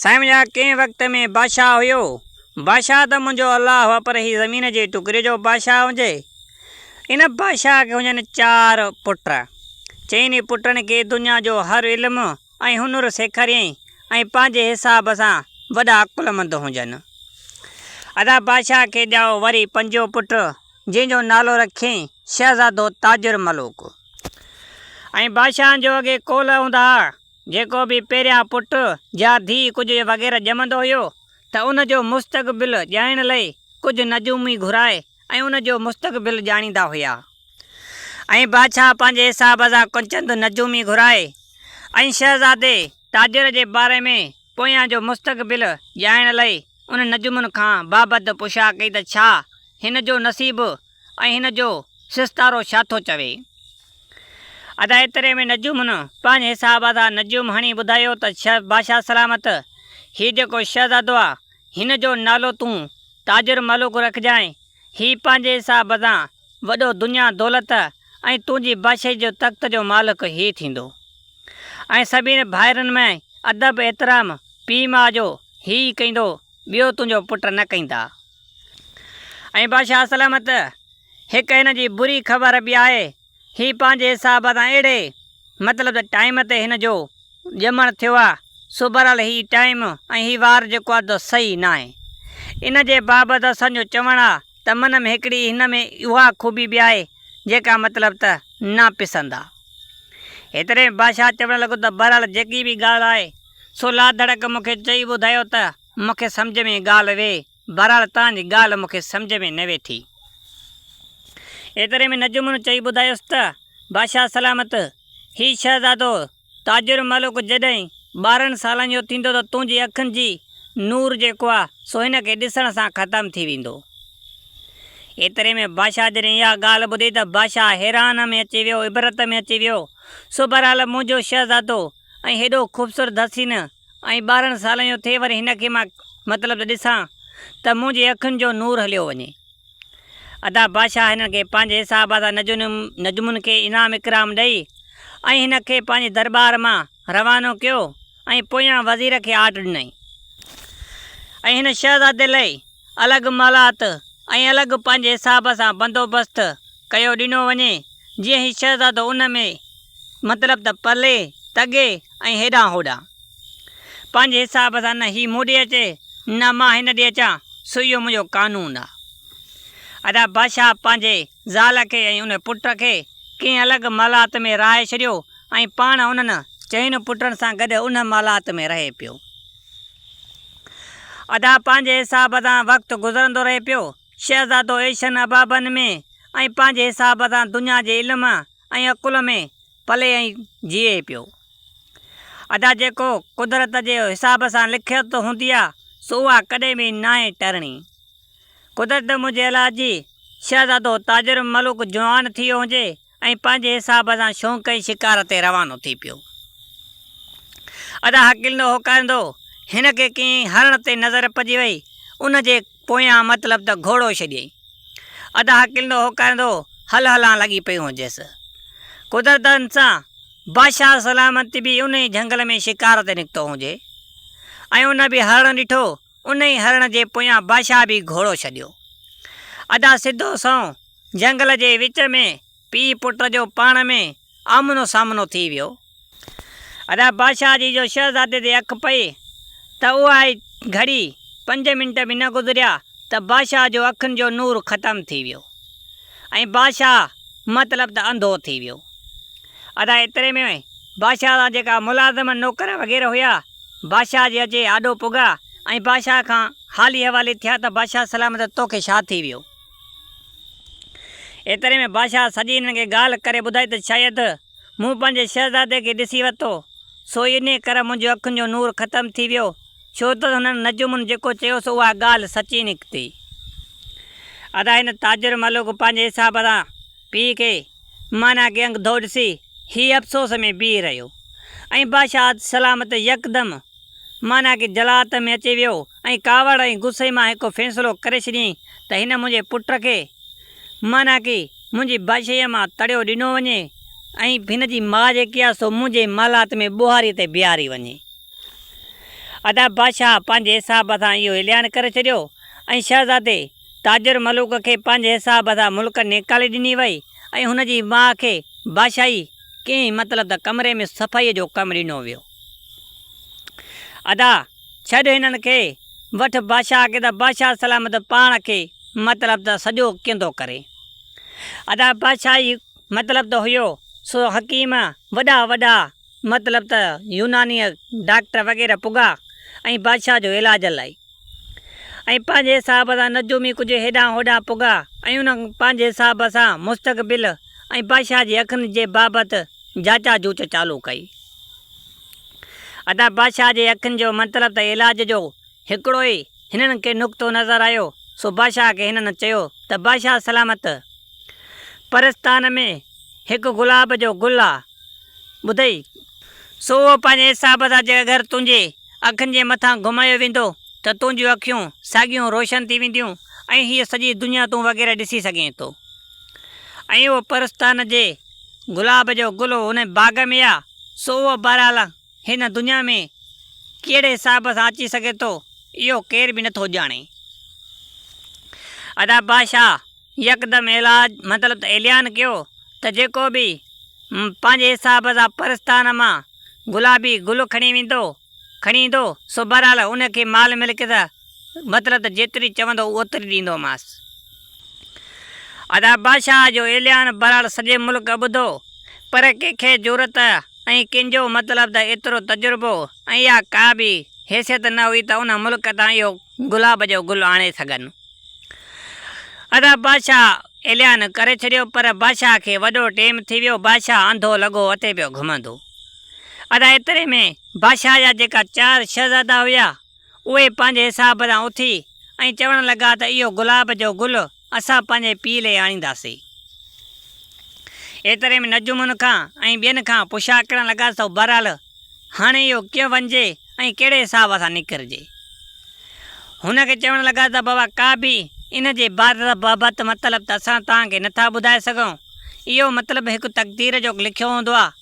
سائين يا ڪنهن وقت ۾ بادشاهه هيو. بادشاهه ته منهنجو الله هو پر هي زمين جي ٽڪري جو بادشاهه هجي. ان بادشاهه کي هجن چار پٽ. چئني پٽن کي دنيا جو هر علم ۽ هنر سيکاريائين ۽ پنهنجي حساب سان وڏا عقلمند هجن. ادا بادشاهه کي ڄائو وري پنجون پٽ جنهن جو نالو رکيائين شهزادو تاجر ملوڪ. ۽ بادشاهن جو اڳي قول هوندا ها جيڪو به پهريان پٽ يا ڌيء ڪجهه يا وغيره ڄمندو هيو ته ان جو مستقبل ڄائڻ لئي ڪجهه نجومي گهرائي ۽ ان جو مستقبل ڄاڻيندا هيا ۽ بادشاهه پنهنجي حساب سان ڪنچند نجومي گهرائي ۽ شهزادي تاجر جي باري ۾ پويان جو مستقبل ڄائڻ لئي ان نجومن کان بابت پڇا ڪئي ته ڇا هن جو نصيب ۽ هن جو سستارو ڇا ٿو چوي؟ ادا ايتري ۾ نجومن پنهنجي حساب سان نجوم هڻي ٻڌايو ته ڇهه بادشاهه سلامت، هي جيڪو شهزادو آ، هن جو نالو تون تاجر ملوڪ رکجانء، هي پنهنجي حساب سان وڏو دنيا دولت ۽ تنهنجي بادشاهي جو تخت جو مالڪ هي ٿيندو. ۽ سڀني ڀائرن ۾ ادب احترام پيء ماء جو هي ئي ڪيندو، ٻيو تنهنجو پٽ نه ڪيندا. ۽ بادشاهه سلامت. هڪ هن جي بري خبر به آهي. هي پنهنجي حساب سان اهڙي، مطلب ته ٽائيم تي هن جو ڄمڻ ٿيو آهي، سو بهرحال هي ٽائيم ۽ هي وار جيڪو آهي سو صحيح ناهي. ان جي بابت اسان جو چوڻ آهي ته من ۾ هڪڙي هن ۾ اها خوبي به آهي، جيڪا مطلب ته ناپسند آهي. هيتري ۾ بادشاهه چوڻ لڳو ته بهرحال جيڪي به ڳالهه آهي، سو لاڌڙڪ مون کي چئي ٻڌايو ته. مون کي سمجهه ۾ ڳالهه وي. بهرحال توهان جي ڳالهه مون کي سمجهه ۾ نه ويٺي. ايتري ۾ نجومڻ چئي ٻڌايس ته، بادشاهه سلامت! هي شهزادو تاجر ملوڪ جڏهن ٻارهن سالن جو ٿيندو ته تنهنجي اکين جي نور جيڪو آهي سو هن کي ڏسڻ سان ختم ٿي ويندو. ايتري ۾ بادشاهه جڏهن اها ڳالهه ٻڌي ته بادشاهه حيران ۾ اچي ويو، عبرت ۾ اچي ويو. سو بهرحال منهنجو شهزادو ۽ هيڏو خوبصورت حسين! ۽ ٻارهن سالن جو ٿئي وري هن کي مان مطلب ته ڏسان ته منهنجي اکين جو نور هليو وڃي. ادا بادشاهه هنن کي پنهنجي حساب سان نجمن کي انعام اڪرام ڏئي ۽ هن کي پنهنجي درٻار مان روانو ڪيو ۽ پويان وزير کي آرڊر ڏنائين ۽ هن شهزادي لئي الڳ محلات ۽ الڳ پنهنجي حساب سان بندوبست ڪيو ڏنو وڃي جيئن هي شهزادو ان ۾ مطلب ته پلي، تڳي ۽ هيڏانهن هوڏانهن. پنهنجي حساب سان نه هي مون ڏي اچي، نه مان هن ڏي اچان، سو اهو منهنجو قانون آ. ادا بادشاهه پنهنجي زال کي ۽ ان پٽ کي ڪنهن الڳ مالات ۾ رهائي ڇڏيو ۽ پاڻ انهن چئن پٽن سان گڏ ان مالات ۾ رهي پيو. ادا پنهنجي حساب سان وقت گذرندو رهي پيو. شهزادو ايشن ابابن ۾ ۽ پنهنجي حساب سان دنيا جي علم، ۽ عقل ۾ پلي ۽ جيئي پيو. ادا جيڪو قدرت جي حساب سان لکيت هوندي آ سو اها ڪڏهن به ناهي ٽرڻي. قدرت منهنجي الله جي شهزادو تاجر الملوڪ جوان ٿيو هجي ۽ پنهنجي حساب سان شونق ۽ شڪار تي روانو ٿي پيو. ادا هڪلندو هوڪاريندو هن کي ڪنهن هرڻ تي نظر پئجي وئي ان جي پويان مطلب ته گهوڙو ڇڏيئي. ادا ڪلندو هوڪاريندو هل هلان لڳي پيو هجيس. قدرت سان بادشاهه سلامت به ان ئي جهنگل ۾ شڪار تي نڪتو هجي ۽ ان به هرڻ ڏٺو، ان ئي هرڻ جي پويان بادشاهه به گهوڙو ڇڏيو. ادا سڌو سنئون جهنگل جي وچ ۾. پيء پٽ جو پاڻ ۾ آمنو سامنو ٿي ويو. ادا بادشاهه جي جو شهزادي تي اک پئي ته اها ئي گهڙي، پنج منٽ به نه گذريا ته بادشاهه جو اکين جو نور ختم ٿي ويو ۽ بادشاهه مطلب ته انڌو ٿي ويو. ادا ايتري ۾ بادشاهه سان جيڪا ملازم نوڪر وغيره هيا، بادشاهه جي اچي آڏو پڳا ۽ بادشاهه کان حالي حوالي ٿيا ته بادشاهه سلامت توکي ڇا ٿي ويو؟ ايتري ۾ بادشاهه سڄي هنن کي ڳالهه ڪري ٻڌائي ته شايد مون پنهنجي شهزادي کي ڏسي ورتو، سو ئي انهيء ڪري منهنجي اکين جو نور ختم ٿي ويو، ڇو ته هنن نجومن جيڪو چيو سو اها ڳالهه سچي نڪتي. ادا هن تاجر ملوڪ پنهنجي حساب سان پيء کي معنيٰ ڪي انگڌو ڏسي هي افسوس ۾ بيهي رهيو ۽ بادشاهه سلامت يڪدم معنيٰ ڪي جلالت ۾ اچي ويو ۽ ڪاوڙ ۽ غصي مان هڪ فيصلو ڪري ڇڏيائين ته هن منهنجي پٽ کي معنيٰ ڪي منهنجي بادشاهيء مان تڙيو ڏنو وڃي ۽ هن جي ماء جيڪي آهي سو منهنجي محلات ۾ ٻوهاريء تي بيهاري وڃي. ادا بادشاهه پنهنجي حساب سان اهو اعلان ڪري ڇڏيو ۽ شهزادي تاجر ملوڪ کي پنهنجي حساب سان ملڪ نيڪالي ڏني وئي ۽ هن جي ماء کي بادشاهي ڪنهن مطلب ته ڪمري ۾ صفائيء جو ڪم ڏنو ويو. ادا! ڇڏ هنن کي، وٺ بادشاهه کي ته بادشاهه سلامت پاڻ کي مطلب ته سڄو ڪيندو ڪري. ادا بادشاهه ئي مطلب ته هيو، سو حڪيم، وڏا وڏا مطلب ته يوناني ڊاڪٽر وغيره پڳا ۽ بادشاهه جو علاج لاء. ۽ پنهنجي حساب سان نجومي ڪجهه هيڏانهن هوڏانهن پڳا ۽ انهن پنهنجي حساب سان مستقبل ۽ بادشاهه جي اکين جي بابت جاچا جوچ چالو ڪئي. ادا بادشاهه جي اکين جو مطلب ته علاج جو هڪڙو ئي هنن کي نقطو نظر آيو سو بادشاهه کي هنن چيو ته بادشاهه سلامت پرستان ۾ هڪ گلاب جو گل آ ٻڌئي، سو اهو پنهنجي حساب سان جيڪر گهر تنهنجي اکين جي مٿان گهمايو ويندو ته تنهنجون اکيون ساڳيون روشن ٿي وينديون ۽ هيء سڄي دنيا تون وغيره ڏسي سگهين ٿو. ۽ اهو پرستان جي گلاب جو گل هن باغ ۾ آ، سو اهو بهرحال هن دنيا ۾ ڪهڙي حساب سان اچي سگهي ٿو، اهو ڪير به نٿو ڄاڻي. ادا بادشاهه! يڪدم ايلاج مطلب ته اعلان ڪيو ته جيڪو به م پنهنجي حساب سان پرستان مان گلابي گل کڻي ويندو، کڻي ايندو، سو بهرحال ان کي مال ملڪيت مطلب ته جيتري چوندو اوتري ڏيندومانس. ادا بادشاهه جو اعلان بهرحال سڄي ملڪ ٻڌو، پر ڪنهن کي جرئت ۽ ڪنهن جو مطلب ته ايترو تجربو ۽ اها ڪا به حيثيت نه هئي ته ان ملڪ تان اهو گلاب جو گل آڻي سگهن. ادا بادشاهه اعلان ڪري ڇڏيو پر بادشاهه کي وڏو ٽيم ٿي ويو بادشاهه انڌو لڳو اتي پيو گهمندو ادا ايتري ۾ بادشاهه جا جيڪا چار شهزادا هيا اهي پنهنجي حساب سان اٿي ۽ چوڻ لڳا ته اهو گلاب جو گل اسان پنهنجي پيء لئي آڻينداسي ايتري ۾ نجومن کان ۽ ٻين کان پڇا ڪرڻ لڳا سو بهرحال هاڻي اهو ڪيئن وڃجي ۽ ڪهڙي حساب سان نڪرجي؟ هن کي چوڻ لڳا ته بابا ڪا به ان جي بابت مطلب ته اسان توهان کي نٿا ٻڌائي سگهون. اهو مطلب هڪ تقدير جو لکيو هوندو آهي.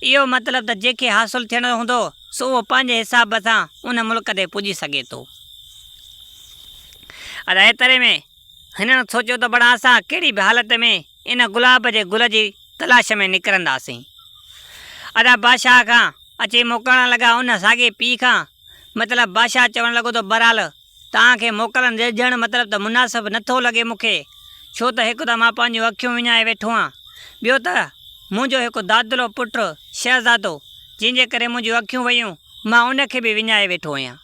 اهو مطلب ته جنهن کي حاصل ٿيڻو هوندو سو اهو پنهنجي حساب سان ان ملڪ تي پڄي سگهي ٿو. ادا ايتري ۾ هنن سوچيو ته بڙا اسان ڪهڙي به حالت ۾ ان گلاب جي گل جي تلاش ۾ نڪرنداسين. ادا بادشاهه کان اچي موڪلڻ لڳا ان ساڳي پيء کان مطلب بادشاهه چوڻ لڳو ته بهرحال توهان کي موڪلن ڏجڻ مطلب ته مناسب نه ٿو لڳي مون کي ڇو ته هڪ ته مان پنهنجون اکيون وڃائي ويٺو آهيان ٻيو ته منهنجو هڪ دادلو پٽ شهزادو جنهن جي ڪري منهنجون اکيون ويون مان ان کي به وڃائي ويٺو آهيان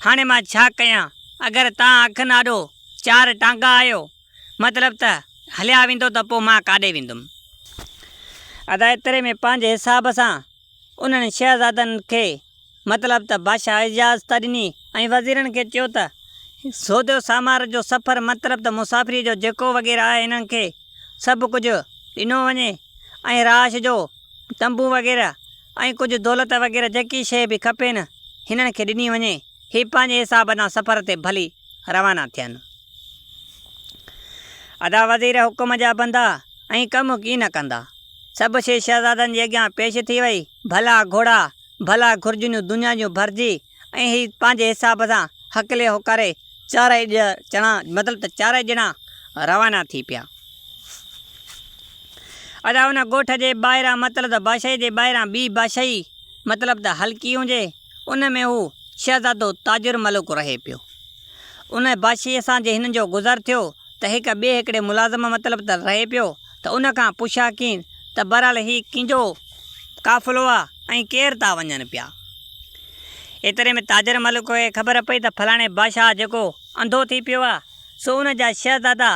هاڻي مان ڇا ڪيان اگر توهان اکن آڏو چار ٽانگا آهيو مطلب ته هليا ويندو ته پوء مان ڪاڏي ويندم؟ ادا ايتري ۾ پنهنجي حساب سان انهن شهزادن کي مطلب ته بادشاهه اجازت ڏني ۽ وزيرن کي چيو ته سوڌو سامار جو سفر مطلب ته مسافريء جو جيڪو وغيره آهي انهن کي سڀ ڪجهه ڏنو وڃي ۽ رهائش جو تنبو وغيره ۽ ڪجهه دولت وغيره جيڪي شيء به کپين هنن کي ڏني وڃي هي پنهنجي حساب سان سفر تي ڀلي روانا ٿين. ادا وزير حڪم جا بندا ائين ڪم ڪي نه ڪندا. سڀ شيء شهزادن جي اڳيان پيش ٿي وئي. ڀلا گهوڙا، ڀلا گهرجنيون دنيا جون ڀرجي ۽ هي پنهنجي حساب سان هڪلي هوڪاري چارئي ڄڻا مطلب ته چارئي ڄڻا روانا ٿي پيا. ادا ان ڳوٺ جي ٻاهران مطلب ته بادشاهي جي ٻاهران ٻي بادشاهي مطلب ته هلڪي هجي. ان ۾ هو شهزادو تاجر ملڪ رهي پيو. ان بادشاهيء سان جي هن جو گذر ٿيو ته هڪ ٻئي هڪڙي ملازم مطلب ته رهي پيو ته ان کان پڇان ڪين ته بهرحال هي ڪينجو قافلو آ ۽ ڪير تا وڃن پيا. ايتري ۾ تاجر ملڪ کي خبر پئي ته فلاڻي بادشاهه جيڪو انڌو ٿي پيو آ سو ان جا شهزادا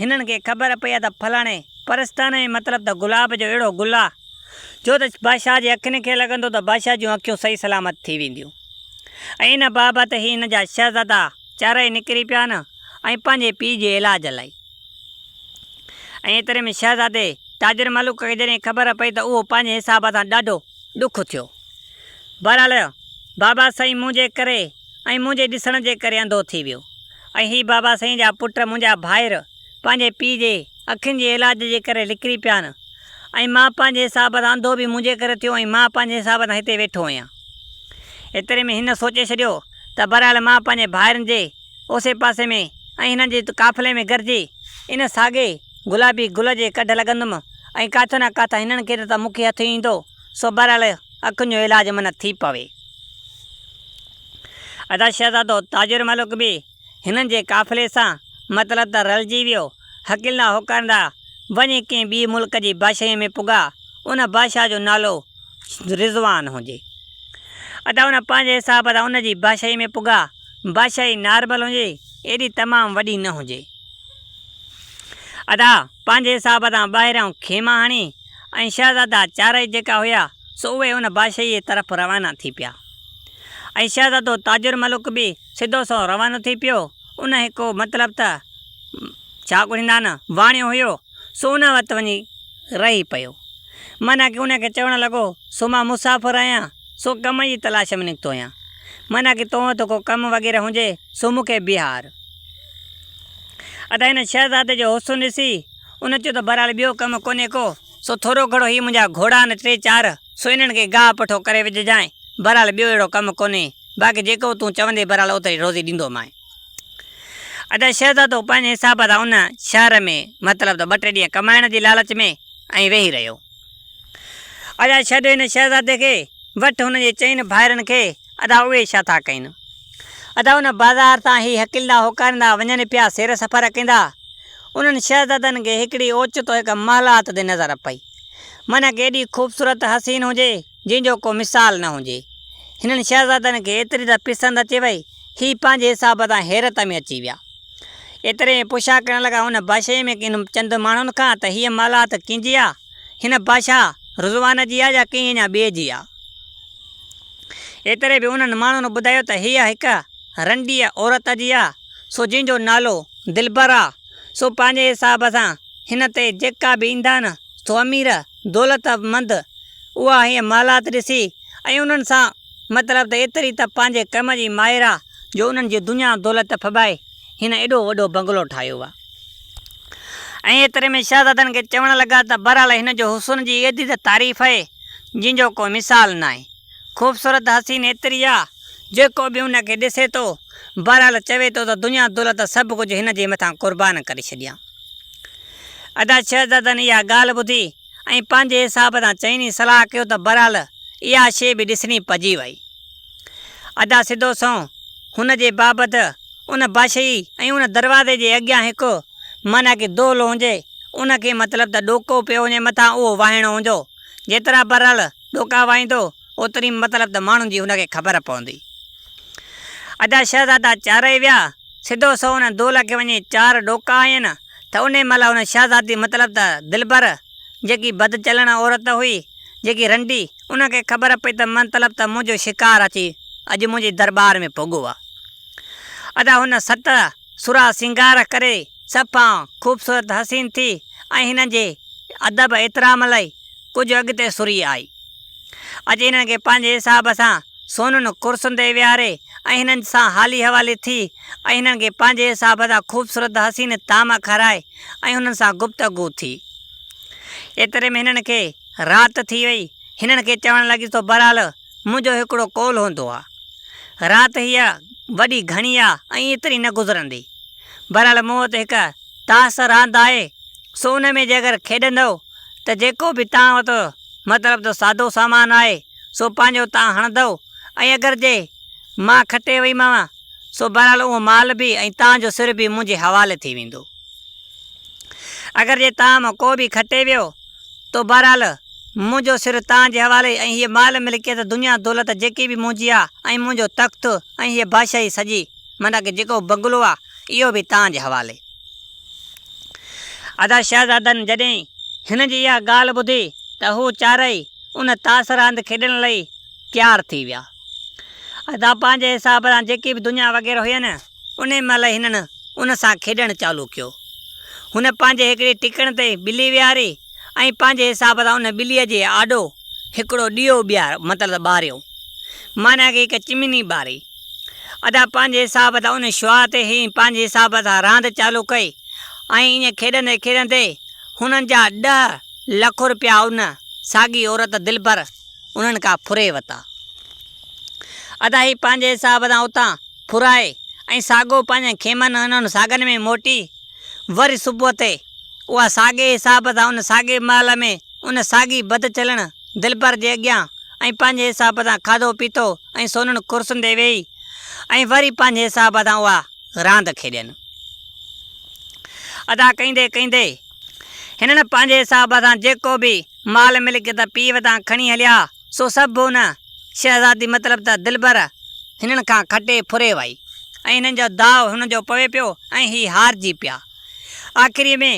هنن کي خبر پئي آ ته فلاڻي پرستانه ۾ مطلب ته گلاب جو اهڙو گل آ جو ته بادشاهه جي اکين کي لڳندو ته بادشاهه جون اکيون صحيح سلامت ٿي وينديون ۽ ان بابت هي هن جا شهزادا چارئي نڪري پيا آهن ۽ پنهنجي پيء جي علاج لائي ۽ ايتري ۾ شهزادي تاجر ملوڪ کي جڏهن خبر پئي ته اهو پنهنجي حساب سان ڏاڍو ڏک ٿيو بهرحال بابا سائين منهنجي ڪري ۽ منهنجي ڏسڻ جي ڪري انڌو ٿي ويو ۽ هي بابا سائين جا پٽ منهنجا ڀائر پنهنجي پيء جي اکين جي علاج جي ڪري لڪري پيا آهن ۽ مان پنهنجي حساب سان انڌو به منهنجي ڪري ٿيو ۽ مان پنهنجي حساب سان هتي ويٺو آهيان. ايتري ۾ هن سوچي ڇڏيو ته بهرحال مان پنهنجي ڀائرن جي اوسي پاسي ۾ ۽ هنن جي قافلي ۾ گڏجي ان ساڳئي گلابي گل جي ڪڍ لڳندم ۽ ڪاٿو نه ڪاٿان هنن کي نه ته مون کي هٿ ايندو سو بهرحال اکين جو علاج منع ٿي پوي. ادا شهزادو تاجر ملڪ به هنن جي قافلي سان مطلب ته رلجي ويو. حقيلنا هوڪارندا وڃي ڪنهن ٻي ملڪ جي بادشاهيء ۾ پڳا. ان بادشاهه جو نالو رضوان هجي. ادا هن پنهنجي حساب سان ان جي بادشاهيء ۾ پڳا. بادشاهي نارمل هجي، ايڏي تمام وڏي نه هجي. ادا پنهنجي حساب سان ٻاهريان خيما هڻي، ۽ شهزادا چارئي جيڪا هيا سو اهي ان بادشاهيء طرف روانا ٿي پيا ۽ شهزادو تاج الملڪ به سڌو سنئون روانو ٿي پيو، ان هڪو مطلب ته ڇا ڳڙهيندا نه، واڻيو هيو سو ان وٽ وڃي رهي پيو، معنيٰ ڪي ان کي چوڻ لڳو سو مان مسافر آهيان سو ڪم جي تلاش ۾ نڪتو آهيان، معنيٰ ڪي تو وٽ ڪو ڪم وغيره هجي سو مون کي بيهار. ادا هن شهزادي جو حسن ڏسي. ان چيو ته بهرحال ٻيو ڪم ڪونهي ڪو، سو ٿورو گهڻو هي منهنجا گهوڙا آهن ٽي چار، سو انهن کي گاهه پٺو ڪري وجهجانء، بهرحال ٻيو اهڙو ڪم ڪونهي، باقي جيڪو تون چوندين بهرحال اوتري روزي ڏيندومانء. ادا شهزادو پنهنجي حساب سان ان شهر ۾ مطلب ته ٻه ٽي ڏينهن ڪمائڻ جي لالچ ۾ ائين ويهي رهيو. ادا ڇڏ هن شهزادي کي. وٺ هن جي چئن ڀائرن کي. ادا اهي ڇا ٿا ڪين؟ ادا ان بازار تان هي هڪلندا هوڪاريندا وڃن پيا سير سفر ڪيندا. انهن شهزادن کي هڪڙي اوچتو هڪ محلات تي نظر پئي. منک ايڏي خوبصورت حسين هجي جنهن جو ڪو مثال نه هجي. هنن شهزادن کي ايتري ته پسند اچي وئي هي پنهنجي حساب تان حيرت ۾ اچي ويا. ايتري ۾ پڇا ڪرڻ لڳا ان بادشاهيء ۾ ڪن چند ماڻهن کان ته هيء مالات ڪنهن جي آ؟ هن بادشاهه رضوان جي آ يا ڪنهن اڃا ٻئي جي آ؟ ايتري ۾ انهن ماڻهن ٻڌايو ته هيء هڪ رنڊيء عورت جي آ، سو جنهن جو نالو دلبر آ، سو پنهنجي حساب سان هن تي جيڪا به ايندان، سو امير، دولتمند، اها هيء مالات ڏسي ۽ انهن سان، مطلب ته ايتري ته پنهنجي ڪم جي ماهر آ جو انهن جي دنيا دولت ڦٻائي هن ايڏو وڏو بنگلو ٺاهيو آ. ۽ ايتري ۾ شهزادن کي چوڻ لڳا ته بهرحال هن جو حسن جي ايڏي ته تعريف اهي جنهن جو ڪو مثال ناهي. خوبصورت حسين ايتري آ جيڪو به ان کي ڏسي ٿو بهرحال چوي ٿو ته دنيا دولت سڀ ڪجهه هن جي مٿان قربان ڪري ڇڏيان. ادا شهزادن اها ڳالهه ٻڌي ۽ پنهنجي حساب سان چئني صلاح ڪيو ته بهرحال اها شيء به ڏسڻي پئجي وئي. ادا سڌو سنئون هن جي بابت ان باشيء ۽ ان دروازي جي اڳيان هڪ معنيٰ ڪي دولهه هونجي ان کي مطلب ته ڏوڪو پيو وڃي مٿان اهو واهڻو هونجو جيترا بهرحال ڏوڪا واهيندو اوتري مطلب ته ماڻهن جي هن کي خبر پوندي. ادا شهزادا چارئي ويا، سڌو سو ان دول کي وڃي چار ڏوڪا هنيين ته انهي مهل ان شهزادي مطلب ته دلبر جيڪي بد چلڻ عورت هئي، جيڪي رنڊي، ان کي خبر پئي ته مطلب ته منهنجو شڪار اچي اڄ منهنجي درٻار ۾ پڳو آ. ادا هن ست. سرها سينگار ڪري صفا خوبصورت حسين ٿي ۽ هنن جي ادب احترام لئي ڪجهه اڳتي سري آئي. اڄ هنن کي پنهنجي حساب سان سونهن ڪرسن تي ويهاري ۽ هنن سان حالي حوالي ٿي ۽ هنن کي پنهنجي حساب سان خوبصورت حسين طعام کارائي ۽ هنن سان گفتگو ٿي. ايتري ۾ هنن کي رات ٿي وئي. هنن کي چوڻ لڳيس تو بهرحال منهنجو هڪڙو قول هوندو آ. رات هيء وڏي گهڻي آ ۽ ايتري نه گذرندي. بهرحال مون وٽ هڪ تاس راند آهي، سو ان ۾ جي اگر کيڏندؤ ته جيڪو به تان وٽ مطلب ته سادو سامان آهي، سو پنهنجو تان هڻندؤ ۽ اگر جي مان کٽي ويمانء، سو بهرحال اهو مال به ۽ تان جو سر به منهنجي حوالي ٿي ويندو. اگر جي تان مان ڪو به کٽي ويو، تو بهرحال منهنجو سر توهان جي حوالي ۽ هيء مال ملڪيت دنيا دولت جيڪي به منهنجي آ ۽ منهنجو تخت ۽ هيء بادشاهي سڄي معنيٰ ڪه جيڪو بنگلو آ اهو به توهان جي حوالي. ادا شهزادن جڏهن هن جي اها ڳالهه ٻڌي ته هو چارئي ان تاس راند کيڏڻ لئي تيار ٿي ويا. ادا پنهنجي حساب سان جيڪي به دنيا وغيره هئي نه ان مهل هنن ان سان کيڏڻ چالو ڪيو. هن پنهنجي هڪڙي ٽڪڻ تي ٻلي ويهاري ۽ پنهنجي حساب سان ان ٻليء جي آڏو هڪڙو ڏيئو ٻيهاريو مطلب ته ٻاريو. معنيٰ ڪي هڪ چمني ٻاري. ادا پنهنجي حساب سان ان شعاع تي هنن پنهنجي حساب سان راند چالو ڪئي ۽ ائين کيڏندي کيڏندي هنن جا ڏهه لک روپيا ان ساڳي عورت دلبر هنن کان ڦري ورتا. ادا هي پنهنجي حساب سان اتان ڦرائي ۽ ساڳو پنهنجن خيمن ۽ انهن ساڳن ۾ موٽي وري صبح تي اها ساڳئي حساب سان ان ساڳئي محل ۾ ان ساڳي بد چلڻ دلبر جي اڳيان ۽ پنهنجي حساب سان کاڌو پيتو ۽ سونهن ڪرسين تي ويهي ۽ وري پنهنجي حساب سان اها راند کيڏين ادا ڪيندي ڪيندي هنن پنهنجي حساب سان جيڪو به مال ملڪيت پيء وٽان کڻي هليا سو سڀ هن شهزادي مطلب ته دلبر هنن کان کٽي ڦري وئي ۽ هنن جو داء هن جو پوي پيو ۽ هي هارجي پيا. آخريء ۾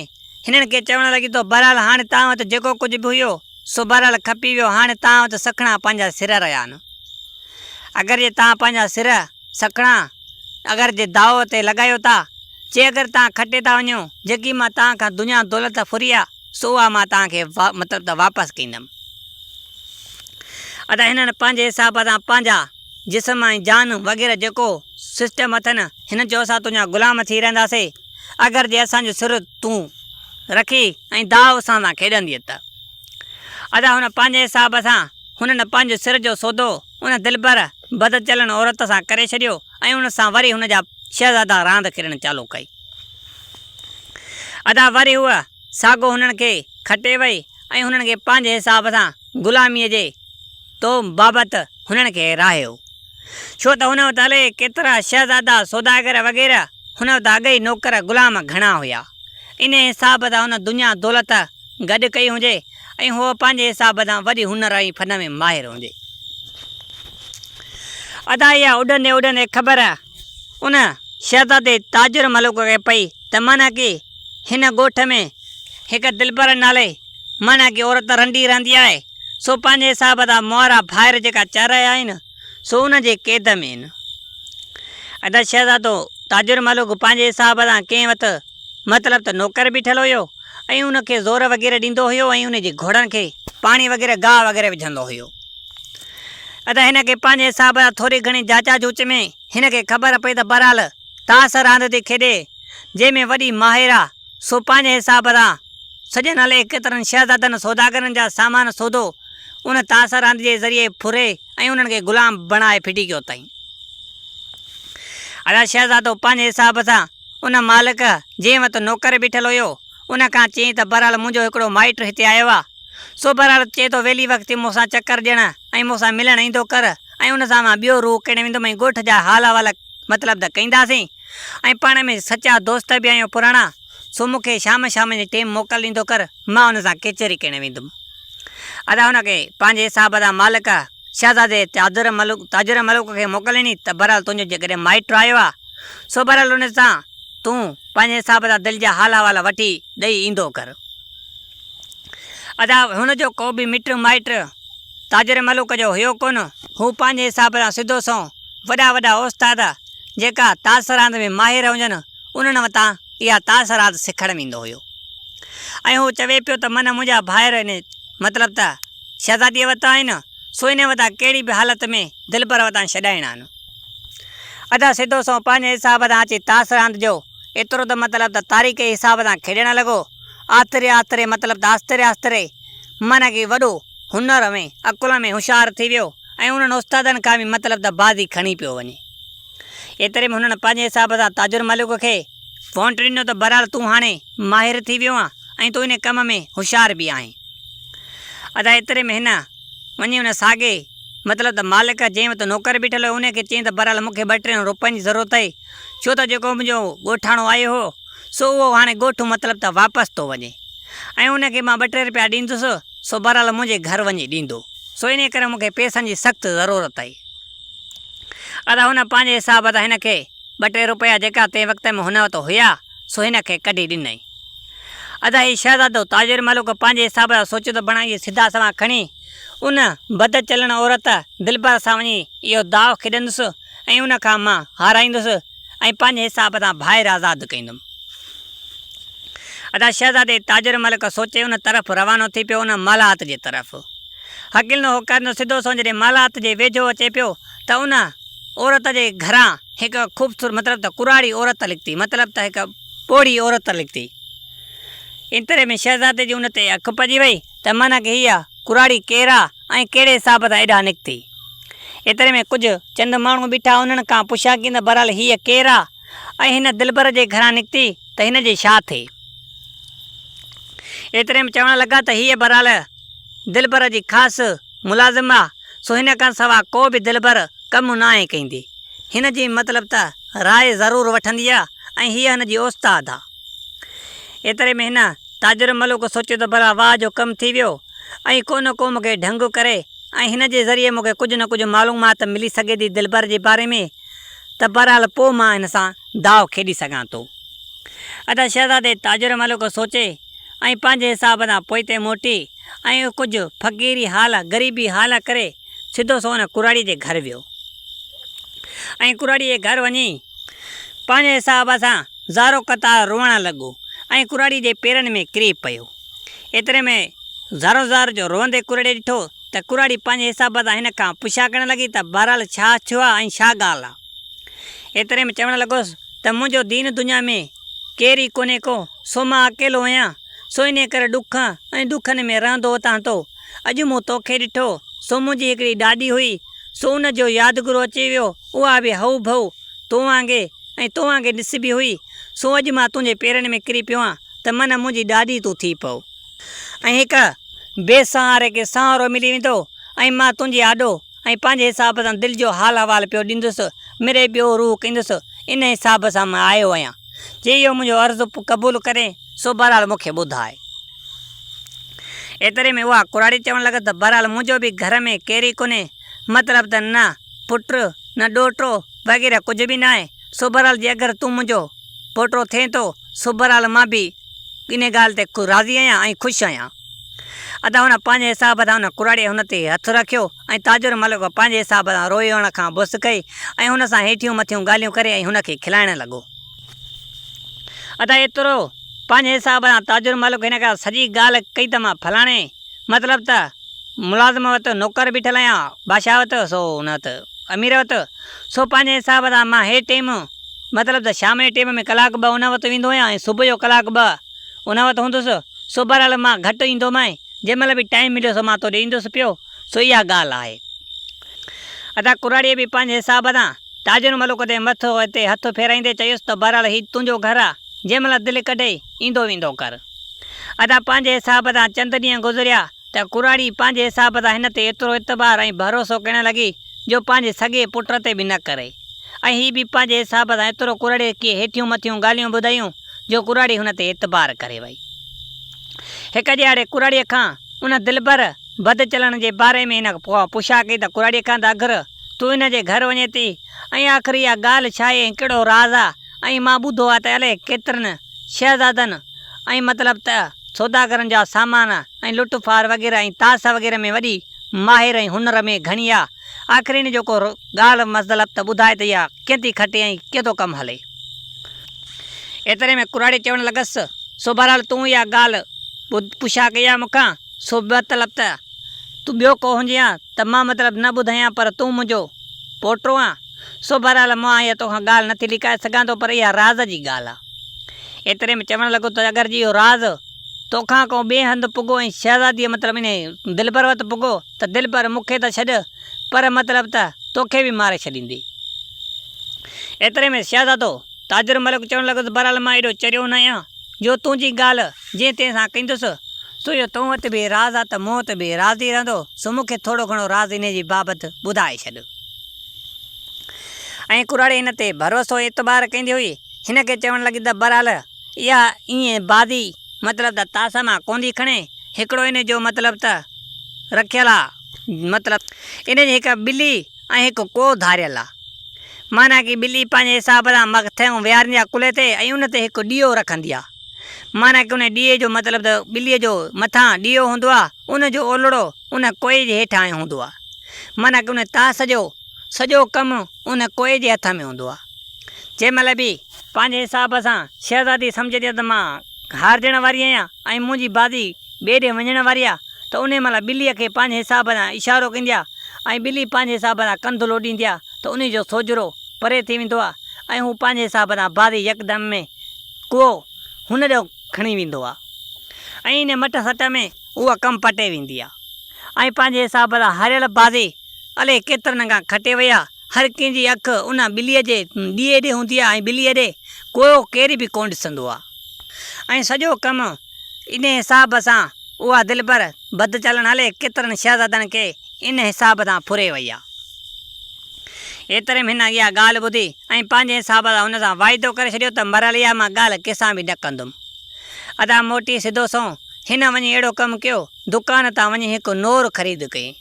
هنن کي چوڻ لڳي ته بهرحال هاڻي توهان وٽ جيڪو ڪجهه به هيو سو بهرحال کپي ويو هاڻي توهان وٽ سکڻا پنهنجا سر رهيا آهن اگر جي توهان پنهنجا سر، سکڻا، اگر جي داء تي لڳايو ٿا، جي اگر توهان کٽي ٿا وڃو، جيڪي مان توهان کان دنيا دولت ڦري آ، سو اها مان توهان کي مطلب ته واپس ڪندم. ادا هنن پنهنجي حساب سان پنهنجا جسم ۽ جانون وغيره جيڪو سسٽم اٿن هنن چيو اسان تنهنجا غلام ٿي رهنداسي اگر جي اسان جو سر تون رکي ۽ داء اسان سان کيڏنديء ته. ادا هن پنهنجي حساب سان هنن پنهنجو سر جو سودو ان دلبر بدچلڻ عورت سان ڪري ڇڏيو ۽ ان سان وري هن جا شهزادا راند کيڏڻ چالو ڪئي. ادا وري هوء ساڳو هنن کي کٽي وئي ۽ هنن کي پنهنجي حساب سان غلاميء جي توم بابت هنن کي راهيو. ڇو ته هن وٽ الائي ڪيترا شهزادا، سوداگر وغيره هن وٽ اڳئي نوڪر غلام گهڻا هيا. انهيء حساب سان هن دنيا دولت گڏ ڪئي هجي ۽ هوء پنهنجي حساب سان وڏي هنر ۽ فن ۾ ماهر هجي. ادا اها اڏندي اڏندي خبر ان شهزادي تاجر ملوڪ کي پئي ته معنيٰ ڪي هن ڳوٺ ۾ هڪ دلبر نالي معنيٰ ڪي عورت رنڊي رهندي آهي، سو پنهنجي حساب سان مئورا ڀائر جيڪا چئي رهيا آهن، سو ان جي قيد ۾ آهن. ادا شهزادو تاجر ملوڪ پنهنجي حساب سان ڪنهن وٽ مطلب ته نوڪر بيٺل هيو ۽ ان کي زور وغيره ڏيندو هيو ۽ ان جي گهوڙن کي پاڻي وغيره گاهه وغيره وجهندو هيو. ادا هن کي پنهنجي حساب سان ٿوري گهڻي جاچا جوچ ۾ هن کي خبر پئي ته بهرحال تاس راند ٿي کيڏي جنهن ۾ وڏي ماهر آ سو پنهنجي حساب سان سڄن الائي ڪيترن شهزادن سوداگرن جا سامان سودو ان تاس راند جي ذريعي ڦري ۽ انهن کي غلام بڻائي ڦٽي ڪيو تائين ادا شهزادو پنهنجي حساب سان ان مالڪ جنهن وت نوڪر بيٺل هيو ان کان چيائين ته بهرحال منهنجو هڪڙو مائٽ هتي آيو آ سوڀرارت چئي ٿو ويلي وقتي مون سان چڪر ڏيڻ ۽ مون سان ملڻ ايندو ڪر ۽ ان سان مان ٻيو روح ڪيڻ ويندم ۽ ڳوٺ جا حال احوال مطلب ته ڪينداسين ۽ پاڻ ۾ سچا دوست به آهيون پراڻا سو مون کي شام شام جي ٽيم موڪل ڏيندو ڪر مان ان سان ڪچهري ڪيڻ ويندم. ادا هن کي پنهنجي حساب سان مالڪ شهزادي تاجر ملڪ تاجر ملڪ کي موڪل ڏني ته بهرحال تنهنجو جيڪڏهن مائٽ آيو آهي سو بهرحال ان سان تون پنهنجي حساب سان دل جا حال احوال وٺي ڏئي ايندو ڪر. ادا هن جو ڪو به مٽ مائٽ تاجر ملوڪ جو هيو ڪونه. هو پنهنجي حساب سان سڌو سنئون وڏا وڏا اوستاد جيڪا تاس راند ۾ ماهر هجن انهن وتان اها تاس راند سکڻ ويندو هيو ۽ هو چوي پيو ته من منهنجا ڀائر ان مطلب ته شهزاديء وتان آهن سو انهن وتان ڪهڙي به حالت ۾ دلبر وتان ڇڏائڻا آهن. ادا سڌو سنئون پنهنجي حساب سان اچي تاس راند جو ايترو ته مطلب ته تاريخ جي حساب سان کيڏڻ لڳو آتري آتري مطلب ته آستري آستري معنيٰ ڪي وڏو هنر ۾ عقل ۾ هوشيار ٿي ويو ۽ انهن استادن کان به مطلب ته بازي کڻي پيو وڃي. ايتري ۾ هنن پنهنجي حساب سان تاجر ملڪ کي وونٽ ڏنو ته بهرحال تون هاڻي ماهر ٿي ويو آهين ۽ تون ان ڪم ۾ هوشيار به آهين. ادا ايتري ۾ هن. وڃي ان ساڳي، مطلب ته مالڪ جنهن وٽ نوڪر بيٺل هو، انهيء کي چئين ته بهرحال مون کي ٻه ٽي روپين جي ضرورت آهي، ڇو ته جيڪو منهنجو ڳوٺاڻو آيو هو، سو اهو هاڻي ڳوٺ مطلب ته واپس ٿو وڃي ۽ ان کي مان ٻه ٽي روپيا ڏيندس، سو بهرحال منهنجي گهر وڃي ڏيندو، سو انهيء ڪري مون کي پئسن جي سخت ضرورت آهي. ادا هن پنهنجي حساب تان هن کي ٻه ٽي روپيا جيڪا تنهن وقت ۾ هن وٽ هيا، سو هن کي ڪڍي ڏنائين. ادا هي شهزادو تاجر ملڪ پنهنجي حساب سان سوچيندو بڻائيندي سڌا سوال کڻي ان بدچلڻ عورت دلبر سان وڃي اهو داء کيڏندس ۽ ان کان مان هارائيندس ۽ پنهنجي حساب سان ڀائر آزاد ڪيندم. ادا شهزادي تاجر ملڪ سوچي ان طرف روانو ٿي پيو ان مالهات جي طرف هڪلندو هو ڪرندو سڌو سنئون جڏهن مالهات جي ويجهو اچي پيو ته ان عورت جي گهران هڪ خوبصورت مطلب ته ڪراڙي عورت لڪتي مطلب ته هڪ پوڙهي عورت لکتي. ايتري ۾ شهزادي جي ان تي اک پئجي وئي ته معنيٰ ڪه هيء ڪراڙي ڪير آ ۽ ڪهڙي حساب سان ايڏانهن نڪتي. ايتري ۾ ڪجهه چند ماڻهو بيٺا انهن کان پڇا ڪين ته بهرحال هيء ڪير آ ۽ هن دلبر جي گهران نڪتي ته هن جي ڇا ٿئي. ايتري ۾ چوڻ لڳا ته هيء بهرحال. دلبر جي خاص ملازم آ سو هن کان سوا ڪو به دلبر ڪم ناهي ڪيندي. هن جي مطلب ته راء ضرور وٺندي آ ۽ هيء هن جي اوستاد آ. ايتري ۾ هن تاجر ملوڪ سوچيو ته ڀلا واهه جو ڪم ٿي ويو ۽ ڪو نه ڪو مون کي ڍنگ ڪري ۽ هن جي ذريعي مون کي ڪجهه نه ڪجهه معلومات ملي سگهي ٿي دلبر جي باري ۾ ته بهرحال پوء مان هن سان داء کيڏي سگهان ٿو. ادا شهزادي تاجر ملوڪ سوچي. ۽ پنهنجي حساب تان پوئتي موٽي ۽ ڪجهه فقيري حال غريبي حال ڪري سڌو سو ان ڪراڙي جي گهر ويو ۽ ڪراڙي جي گهر وڃي پنهنجي حساب سان زارو قطار روئڻ لڳو ۽ ڪراڙي جي پيرن ۾ ڪري پيو ايتري ۾ زارو زار جو روئندي ڪراڙي ڏٺو ته ڪراڙي پنهنجي حساب سان هن کان پڇا ڪرڻ لڳي ته بهرحال ڇا ٿيو آهي ۽ ڇا ڳالهه آهي ايتري ۾ چوڻ لڳوس ته منهنجو دين دنيا ۾ ڪير ئي ڪونهي ڪو، سو مان اڪيلو هيان، سو انهيء ڪري ڏک ۽ ڏکن ۾ رهندو هتان هتو. اڄ مون توکي ڏٺو، سو منهنجي هڪڙي ڏاڏي هئي، سو ان جو يادگرو اچي ويو، اها به هئو ڀئو تو وانگي ۽ تو وانگي نسبي هئي، سو اڄ مان تنهنجي پيرن ۾ ڪري پيو آن ته من منهنجي ڏاڏي تون ٿي پئو. ۽ هڪ بي سهاري کي سهارو ملي ويندو ۽ مان تنهنجي آڏو ۽ پنهنجي حساب سان دل جو حال احوال پيو ڏيندس، مري ٻيو روح ڪندس، ان حساب سان مان آيو آهيان، جي اهو منهنجو عرض قبول ڪري، سو بهرحال مون کي ٻڌاء. ايتري ۾ اها ڪراڙي چوڻ لڳس ته بهرحال منهنجو به گهر ۾ ڪير ئي ڪونهي، مطلب ته نه پٽ، نه ڏوهٽو وغيره ڪجهه به ناهي، سو بهرحال جي اگر تون منهنجو پوٽو ٿئين ٿو، سو بهرحال مان به. انهيء ڳالهه تي راضي آهيان ۽ خوش آهيان. ادا هن پنهنجي حساب سان ان ڪراڙيء هن تي هٿ رکيو ۽ تاجر ملڪ پنهنجي حساب سان روئي هن کان بس ڪئي ۽ هن سان هيٺيون مٿيون ڳالهيون ڪري ۽ هن کي کلائڻ لڳو. ادا ايترو پنهنجي حساب سان تاجر ملڪ هن کان سڄي ڳالهه ڪئي ته مان فلاڻي. مطلب ته ملازم وت نوڪر بيٺل آهيان، بادشاهه وت سو هن وت امير وت، سو پنهنجي حساب سان مان هي ٽيم مطلب ته شام جي ٽيم ۾ ڪلاڪ ٻه هن وت ويندو هيان ۽ صبح جو ڪلاڪ ٻه هن وت هوندس، سو بهرحال مان گهٽ ايندومانء، جنهن مهل به ٽائيم مليو سو مان توڏي ايندس پيو، سو اها ڳالهه آهي. ادا ڪراڙيء به پنهنجي حساب سان تاجر ملوڪ تي مٿو تي هٿ ڦيرائيندي چيس ته بهرحال هي تنهنجو گهر آ، جنهن مهل دل ڪڍئي ايندو ويندو ڪر. ادا پنهنجي حساب تان چند ڏينهن گذريا ته ڪراڙي پنهنجي حساب تان هن تي ايترو اعتبار ۽ ڀروسو ڪرڻ لڳي جو پنهنجي سڳي پٽ تي به نه ڪري ۽ هي به پنهنجي حساب تان ايترو ڪراڙي کي هيٺيون مٿيون ڳالهيون ٻڌايون جو ڪراڙي هن تي اعتبار ڪري وئي. هڪ ڏيهاڙي ڪراڙي کان ان دلبر بد چلڻ جي باري ۾ هن پڇا ڪئي ته ڪراڙي کان ته اگر تون هن جي گهر وڃين ٿي ۽ آخر اها ڳالهه ڇا آهي ۽ ڪهڙو راز آهي ۽ مان ٻڌو آهي ته الائي ڪيترن شهزادن ۽ مطلب ته سوداگرن جا سامان ۽ لٽ ڦار وغيره ۽ تاس وغيره ۾ وڏي ماهر ۽ هنر ۾ گهڻي آ آخر ان جو ڪو ڳالهه مظلب ته ٻڌائي ته اها ڪئين ٿي کٽي ۽ ڪئين ٿو ڪم هلي. ايتري ۾ ڪراڙي چوڻ لڳس، سو بهرحال تون اها ڳالهه ٻڌ پڇا ڪئي آ مون کان، سو مطلب ته تون ٻيو ڪو هجينهان ته مان مطلب نه ٻڌايان پر تون منهنجو پوٽو آن، سو بهرحال مان اها توکان ڳالهه نه ٿي لڪائي سگهان ٿو پر اها راز جي ڳالهه آهي. ايتري ۾ چوڻ لڳو ته اگر جي اهو راز توکان ڪو ٻئي هنڌ پڳو ۽ شهزاديء مطلب ان دلبر وٽ پڳو ته دلبر مون کي ته ڇڏ پر مطلب ته توکي به ماري ڇڏيندي. ايتري ۾ شهزادو تاجر ملڪ چوڻ لڳو ته بهرحال مان ايڏو چريو نه آهيان جو تنهنجي ڳالهه جنهن تنهن سان ڪندس سو جو تو وٽ به راز آهي ته مون وٽ به راز ئي رهندو سو مون کي ٿورو گهڻو راز انهيء جي بابت ٻڌائي ڇڏ. ۽ ڪراڙي هن تي ڀروسو اعتبار ڪيندي هئي، هن کي چوڻ لڳي ته برحال اها ائين بازي مطلب ته تاسا مان ڪوندي کڻي، هڪڙو ان جو مطلب ته رکيل آ، مطلب ان جي هڪ ٻلي ۽ هڪ ڪوهه ڌاريل آ، معنيٰ ڪي ٻلي پنهنجي حساب سان مغتهيون ويهاريندي آ ڪلهي تي ۽ ان تي هڪ ڏيئو رکندي آ، معنيٰ ڪي ان ڏيئي جو مطلب ته ٻلي جو مٿان ڏيئو هوندو آ، ان جو اولڙو ان ڪوئي جي هيٺان آيو هوندو آهي. معنيٰ ڪه ان طاس جو سڄو ڪم ان ڪوئي جي هٿ ۾ هوندو آهي. جنهن مهل به پنهنجي حساب سان شهزادي سمجهي ٿي ته مان هارجڻ واري آهيان ۽ منهنجي بازي ٻئي ڏي وڃڻ واري آهي ته انهي مهل ٻليء کي پنهنجي حساب سان اشارو ڪندي آهي ۽ ٻلي پنهنجي حساب سان ڪنڌ لوڏيندي آهي ته انهي جو سوجهرو پري ٿي ويندو آهي ۽ هو پنهنجي حساب سان بازي يڪدم ۾ ڪوئو هن ڏانهن کڻي ويندو آ ۽ انهيء مٽ سٽ ۾ اها ڪم پٽي ويندي آ ۽ پنهنجي حساب سان هاريل بازي الئي ڪيترن کان کٽي وئي آ. هر ڪنهن جي اک ان ٻليء جي ڏيئي ڏي هوندي آ ۽ ٻليء ڏي ڪوئو ڪير به ڪونه ڏسندو آ ۽ سڄو ڪم انهيء حساب سان اها دلبر بدچالڻ الئي ڪيترن شهزادن کي ان حساب سان ڦري وئي آ. ايتري ۾ هن اها ڳالهه ٻڌي ۽ پنهنجي حساب سان هن سان واعدو ڪري ڇڏيو ته مريل اها مان ڳالهه ڪنهن سان به نه ڪندم. ادا موٽي سڌو سنئون هن وڃي اهڙو ڪم ڪيو، دڪان تان وڃي هڪ نور خريد ڪيائين.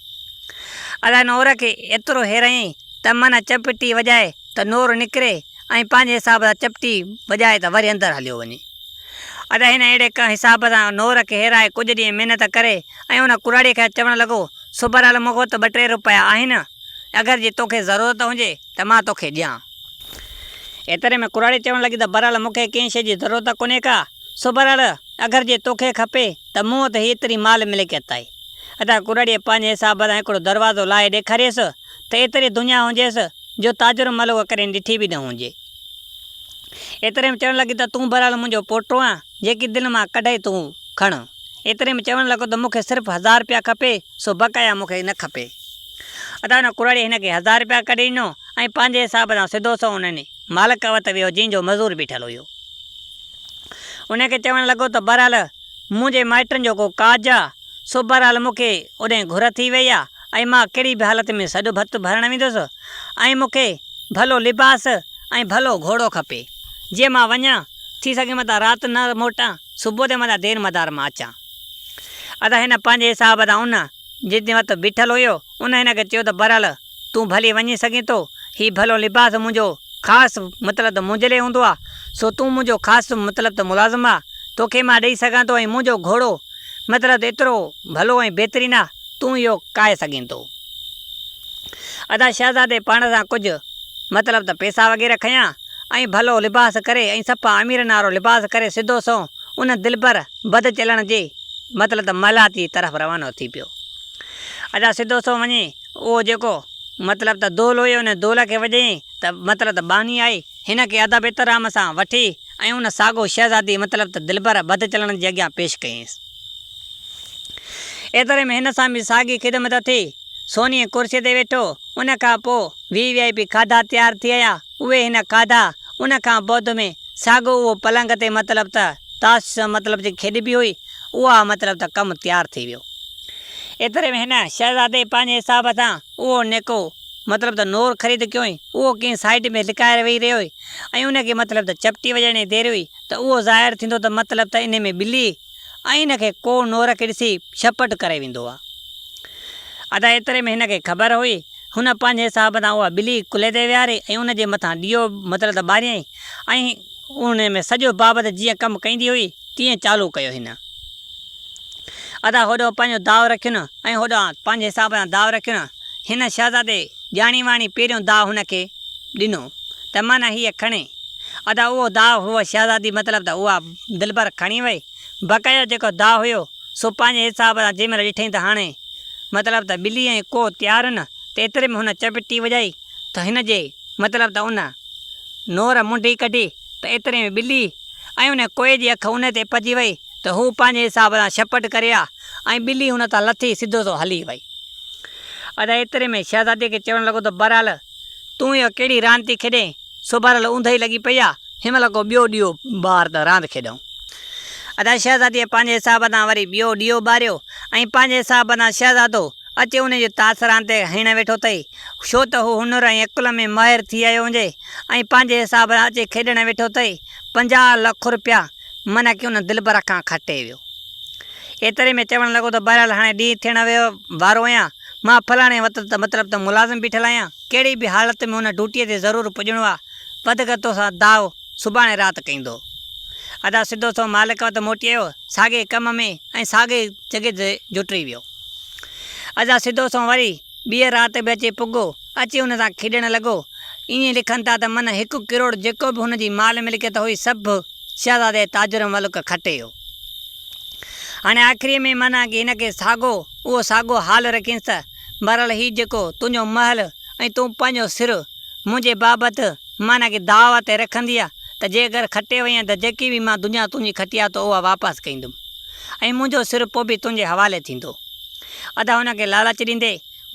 ادا نور کي ايترو هيرايائين ته من چپٽي وڄائي ته نور نڪري ۽ پنهنجي حساب سان چپٽي وڄائي ته وري اندر هليو وڃي. ادا هن اهڙي ڪنهن حساب سان نور کي هيرائي ڪجهه ڏينهن محنت ڪري ۽ ان ڪراڙيء کي چوڻ لڳو، سوڀرال مون وٽ ٻه ٽي روپيا آهن، اگر جي توکي ضرورت هجي ته مان توکي ڏيان. ايتري ۾ ڪراڙي چوڻ لڳي ته بهرحال مون کي ڪنهن شيء جي ضرورت ڪونهي ڪا، سو بهرحال اگر جي توکي کپي ته مون وٽ ايتري مال ملڪيت آهي. اتان ڪراڙيء پنهنجي حساب سان هڪڙو دروازو لاهي ڏيکاريس ته ايتري دنيا هجيس جو تاجر مل اها ڪڏهن ڏٺي به نه هجي. ايتري ۾ چوڻ لڳي ته تون بهرحال منهنجو پوٽو آن، جيڪي دل مان ڪڍئي تون کڻ. ايتري ۾ چوڻ لڳو ته مون کي صرف هزار رپيا کپي، سو بقايا مون کي نه کپي. ادا ان ڪوڙاڙي هن کي هزار رپيا ڪڍي ڏنو ۽ پنهنجي حساب سان سڌو سنئون ان مالڪ وٽ ويو جنهن جو مزور بيٺل هيو. ان کي چوڻ لڳو ته بهرحال منهنجي مائٽن جو ڪو ڪاڄ آ، سو بهرحال مون کي اوڏانهن گهر ٿي وئي آ ۽ مان ڪهڙي به حالت ۾ سڏ ڀت ڀرڻ ويندس ۽ مون کي ڀلو لباس ۽ ڀلو گهوڙو کپي، جيئن مان وڃان، ٿي سگهي متان رات نه موٽان. صبح تي مان ته دير مدار مان اچان ادا هن پنهنجي حساب تان ان جتني وقت بيٺل هيو ان هن کي چيو ته برحل تون ڀلي وڃي سگهين ٿو هي ڀلو لباس منهنجو خاص مطلب ته منهنجي لئي هوندو آ سو تون منهنجو خاص مطلب ته ملازم آ توکي مان ڏئي سگهان ٿو ۽ منهنجو گهوڙو مطلب ته ايترو ڀلو ۽ بهترين آ تون اهو ڪاهي سگهين ٿو. ادا شهزادي پاڻ سان ڪجهه مطلب ته پيسا وغيره کنيا ۽ ڀلو لباس ڪري ۽ صفا اميرن وارو لباس ڪري سڌو سنئون ان دلبر بد چلڻ جي مطلب ته محلات جي طرف روانو ٿي پيو. ادا سڌو سنئون وڃي اهو جيڪو مطلب ته دول هيو ان دول کي وڄيئين ته مطلب ته ٻانهي آئي هن کي ادب احترام سان وٺي ۽ ان ساڳو شهزادي مطلب ته دلبر بد چلڻ جي اڳيان پيش ڪيئينس. ايتري ۾ هن سان به ساڳي خدمت ٿي. سوني ڪرسي تي ويٺو. ان کان پوء وي وي آء پي کاڌا تيار ٿي آيا. اهي هن کاڌا. ان کان بعد ۾ ساڳو اهو پلنگ تي مطلب ته تاش مطلب جي کيڏبي هئي اها مطلب ته ڪم تيار ٿي ويو. ايتري ۾ هن شهزادي پنهنجي حساب سان اهو نيڪو مطلب ته نور خريد ڪيوئي. اهو ڪنهن سائيٽ ۾ لڪائي ويهي رهيو هئي ۽ ان کي مطلب ته چپٽي وڄائڻ جي دير هئي. ته اهو ظاهر ٿيندو ته مطلب ته انهي ۾ ٻلي ۽ ان کي ڪو نور کي ڏسي ڇپٽ ڪري ويندو آ. ادا ايتري ۾ هن کي خبر هئي، هن پنهنجي حساب سان اها ٻلي ڪلهي تي ويهاري ۽ ان جي مٿان ڏيئو مطلب ته ٻاريائين ۽ انهي ۾ سڄو بابت جيئن ڪم ڪيندي هئي تيئن چالو ڪيو هن. ادا هوڏانهن پنهنجو داء رکين ۽ هوڏانهن پنهنجي حساب سان داء رکين. هن شهزادي ڄاڻي واڻي پهريون داء هن کي ڏنو ته معنيٰ هيء کڻي. ادا اهو داء هئو شهزادي مطلب ته اها دلبر کڻي وئي. بڪ جو جيڪو داء هيو سو پنهنجي حساب سان جيمهل ڏٺئين ته هاڻي مطلب ته ٻلي ۽ ڪوهه تيار هن ته ايتري ۾ هن چپٽي وڄائي ته هن جي مطلب ته ان نور منڍي ڪڍي ته ايتري ۾ ٻلي ۽ ان ڪوهه جي اک ان تي پئجي وئي. ته هو پنهنجي حساب سان شپٽ ڪري ها ۽ ٻلي ان تان لٿي سڌو سو هلي وئي. ادا ايتري ۾ شهزادي کي چوڻ لڳو ته بهرحال تون اها ڪهڙي راند ٿي کيڏين، سوڀارل اوندهه ئي لڳي پئي آ، هن مهل ڪو ٻيو ڏيئو ٻار ته راند کيڏئون. ادا شهزاديء پنهنجي حساب سان وري ٻيو ڏيئو ٻاريو ۽ پنهنجي حساب سان شهزادو اچي انهي جو تاس راند تي هڻڻ ويٺو اٿئي، ڇو ته هو هنر ۽ عقل ۾ ماهر ٿي آيو هجي ۽ پنهنجي حساب سان اچي کيڏڻ ويٺو اٿئي، پنجاهه لک رپيا! منع ڪيو نه دلبر کان کٽي ويو. ايتري ۾ چوڻ لڳو ته بهرحال هاڻي ڏينهن ٿيڻ وارو آهيان، مان فلاڻي وت ته مطلب ته ملازم بيٺل آهيان، ڪهڙي به حالت ۾ ان ڊوٽيء تي ضرور پڄڻو آ، وڌڪ توسان داء سڀاڻي رات ڪيندو. ادا سڌو سنئون مالڪ وٽ موٽي آيو، ساڳئي ڪم ۾ ۽ ساڳئي جڳهه تي جوٽي ويو. ادا سڌو سنئون وري ٻيء رات به اچي پڳو. اچي هن سان کيڏڻ لڳو. ائين لکن ٿا ته من هڪ ڪروڙ جيڪو به هن جي مال ملڪيت هئي سڀ شهزادي تاج الملڪ کٽي ويو. هاڻي آخريء ۾ من آگي هن کي ساڳو اهو ساڳو حال رکينس ته بهرحال هي جيڪو تنهنجو محل ۽ تون پنهنجو سر منهنجي بابت من آگي داء تي رکندينء ته جي اگر کٽي وئين ته جيڪي به مان دنيا تنهنجي کٽي آ تو اها واپس ڪندم ۽ منهنجو سر پوء به تنهنجي حوالي ٿيندو. ادا ان کي لالچ ڏيندي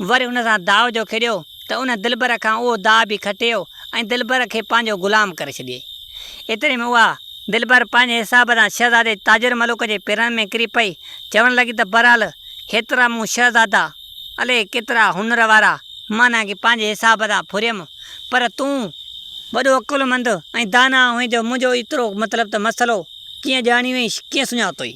وري ان سان داء جو کيڏيو ته ان دلبر کان اهو داء به کٽيو ۽ دلبر کي پنهنجو غلام ڪري ڇڏيئي. ايتري ۾ اها دلبر پنهنجي حساب سان شهزادي تاجر ملوڪ جي پيرن ۾ ڪري پئي، چوڻ لڳي ته بهرحال هيترا مون شهزادا، الئي ڪيترا هنر وارا، معنيٰ ڪي پنهنجي حساب سان ڦريم، پر تون، وڏو عقلمند ۽ داناء هئين جو منهنجو ايترو مطلب ته مسئلو ڪيئن ڄاڻيوئي، ڪيئن سڃاتوئي؟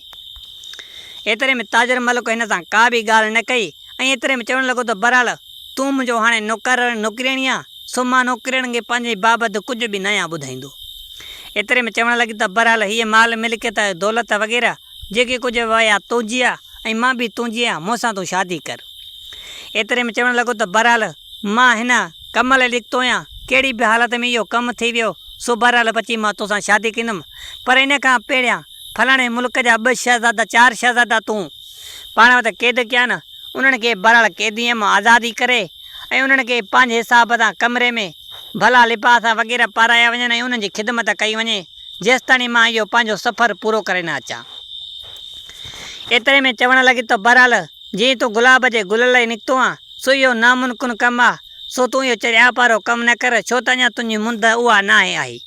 ايتري ۾ تاجر ملڪ هن سان ڪا به ڳالهه نه ڪئي ۽ ايتري ۾ چوڻ لڳو ته بهرحال تون منهنجو هاڻي نوڪر ۽ نوڪريڻي آهين سو مان نوڪريڻ کي پنهنجي بابت ڪجهه به نه آهيان ٻڌائيندو. ايتري ۾ چوڻ لڳي ته بهرحال هيء مال ملڪيت ۽ دولت وغيره جيڪي ڪجهه به آهي اها تنهنجي آهي ۽ مان به تنهنجي آهيان مون سان تون شادي ڪر. ايتري ۾ چوڻ لڳو ته بهرحال مان هن ڪم لاء نڪتو آهيان ڪهڙي به حالت ۾ اهو ڪم ٿي ويو سو بهرحال بچي مان توسان شادي ڪندم پر ان کان پهريان فلاڻي ملڪ جا ٻه شهزادا چار شهزادا تون پاڻ وٽ قيد ڪيا نه انهن کي بهرحال قيديء مان آزادي ڪري ۽ انهن کي پنهنجي حساب سان ڪمري ۾ ڀلا لباس وغيره پارايا وڃن ۽ انهن جي خدمت ڪئي وڃي جيستاڻي مان اهو پنهنجو سفر پورو ڪري نه اچان. ايتري ۾ چوڻ لڳي ته بهرحال جئين تون گلاب جي گل لئي نڪتو آن سو اهو نامنڪن ڪم آ. سو تون اهو چريا پارو ڪم نه ڪر، ڇو ته اڃا تنهنجي مند اها ناهي آئي،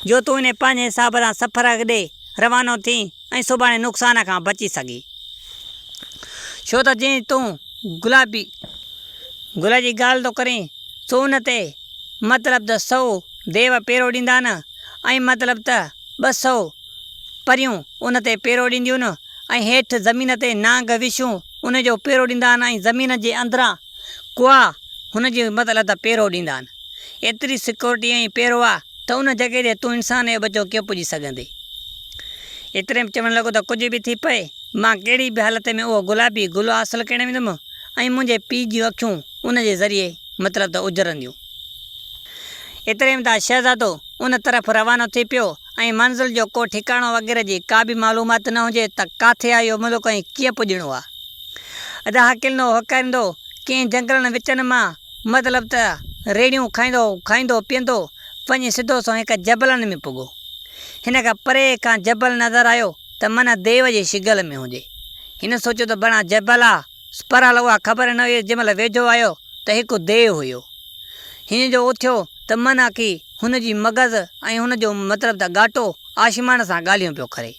جو تون انهي پنهنجي حساب سان سفر ڏي روانو ٿين ۽ سڀاڻي نقصان کان بچي سگهين. ڇو ته جئين تون گلابي گل جي ڳالهه ٿو ڪرين، سو ان تي مطلب ته سؤ ديو پيرو ڏيندا نه ۽ مطلب ته ٻه سؤ پريون ان تي پيرو ڏينديون نه ۽ هيٺ زمين تي نانگ وشنو ان جو پيرو ڏيندا آهن ۽ زمين جي اندران ڪئا، هن جي همت الله ته پيرو ڏيندا آهن. ايتري سيڪيورٽي ۽ پيرو آ ته ان جڳهه تي تون انسان اي ٻچو ڪيئن پڄي سگهندين. ايتري ۾ چوڻ لڳو ته ڪجهه به ٿي پئي مان ڪهڙي به حالت ۾ اهو گلابي گل حاصل ڪرڻ ويندم ۽ منهنجي پيء جون اکيون ان جي ذريعي مطلب ته اجرنديون. ايتري ۾ ته شهزادو ان طرف روانو ٿي پيو ۽ منزل جو ڪو ٺڪاڻو وغيره جي ڪا به معلومات نه هجي ته ڪاٿي آهي اهو ملڪ ۽ ڪيئن پڄڻو آهي. ادا هڪلندو هڪاريندو ڪنهن جنگلن وچن مان مطلب ته ريڙهيون کائيندو کائيندو پيئندو وڃي سڌو سنئون هڪ جبلن ۾ پڳو. هن کي پري کان جبل نظر آيو ته منه ديو جي شگل ۾ هجي. هن سوچيو ته بڻان جبل آ. سپرال اها خبر نه هيس، جنهن مهل ويجهو آيو ته هڪ ديو هيو. هن جو اٿيو ته من آڪي هن جي مغز ۽ هن جو مطلب ته ڳاٽو آشمان سان ڳالهيون پيو ڪري.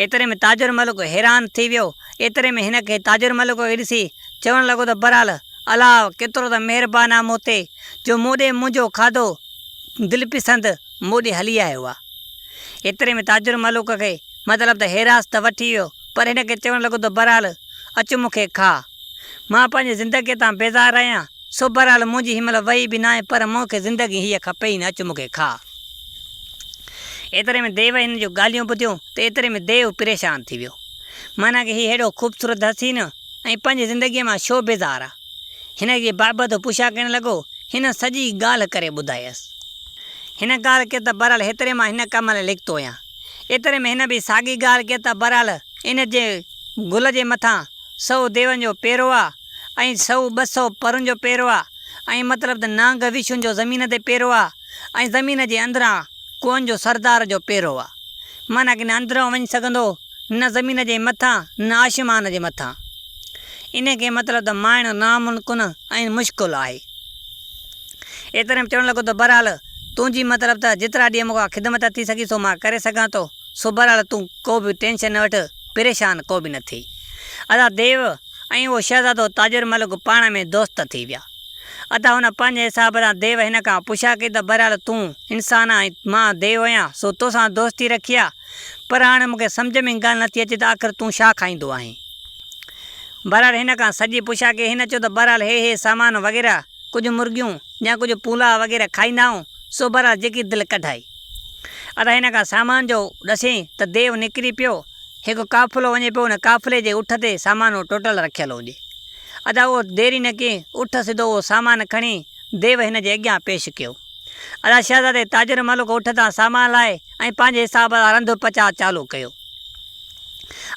ايتري ۾ تاجر ملڪ حيران ٿي ويو. ايتري ۾ هن کي تاجر ملڪ کي ڏسي چوڻ لڳو ته برال الاء ڪيترو ته مهربان آ مون تي جو مون ڏي منهنجو کاڌو دلپسند مون ڏي هلي آيو آ. ايتري ۾ تاجر ملڪ کي مطلب ته حيراست وٺي ويو. پر هن کي چوڻ لڳو ته بهرحال اچ مون کي کاء. مان پنهنجي زندگيء تان بيزار آهيان، سو بهرحال منهنجي هن مهل وهي به ناهي، پر مون کي زندگي هيء کپي ئي نه، اچ مون کي کاء. ايتري ۾ ديو هن جون ڳالهيون ٻڌيون ته ايتري ۾ ديو پريشان ٿي ويو. معنيٰ ڪه هي هيڏو خوبصورت حسين ۽ پنهنجي زندگيء مان ڇو بيزار آ؟ هن جي بابت پڇا ڪرڻ لڳو. هن سڄي ڳالهه ڪري ٻڌايس. هن ڳالهه ڪئي ته بهرحال هيتري مان هن ڪم لاء لکتو آهيان. ايتري ۾ هن به ساڳي ڳالهه ڪئي ته بهرحال ان جي گل جي مٿان سؤ ديون جو پيرو آ ۽ سؤ ٻه سؤ پرن جو پيرو آ ۽ مطلب ته نانگ وشون جو زمين تي پيرو آ ۽ زمين جي اندران ڪوهن جو سردار جو پيرو آ معنيٰ ڪه نه اندران وڃي سگهندو نه زمين جي مٿان نه آشمان جي مٿان ان کي مطلب ته مائڻو ناممڪن ۽ مشڪل آهي. ايتري ۾ چوڻ لڳو ته بھرحال تون جي مطلب ته جيترا ڏينهن مون کان خدمت ٿي سگھي سو مان ڪري سگھان ٿو، سو بھرحال تون ڪو به ٽينشن نه وٺ، پريشان ڪو به نه ٿي. ادا ديو ۽ اھو شھزادو تاجر ملڪ پاڻ ۾ دوست ٿي ويا. ادا هن پنھنجي حساب سان ديو هن کان پڇا ڪئي ته بھرحال تون انسان آهين ۽ مان ديو آهيان سو تو سان دوستي رکي آ پر هاڻي مون کي سمجھ ۾ ڳالھ نه ٿي اچي ته آخر تون ڇا کائيندو آهين؟ بھرحال هن کان سڄي پڇا ڪئي هن چيو ته بھرحال هي هي سامان وغيره ڪجهه مرغيون يا ڪجهه پولاء وغيره کائيندا آهيون، سو بهرحال جيڪي دل ڪڍائي. ادا هن کان سامان جو ڏسين ته ديو نڪري پيو، هڪ قافلو وڃي پيو ان قافلي جي اٺ تي سامان اهو ٽوٽل رکيل هجي. ادا اهو دير ئي نه ڪئي اٺ سڌو اهو سامان کڻي ديو هن جي اڳيان پيش ڪيو. ادا شهزادي تاجر ملڪ اٺ تان سامان لاهي ۽ پنهنجي حساب سان رنڌ پچاء چالو ڪيو.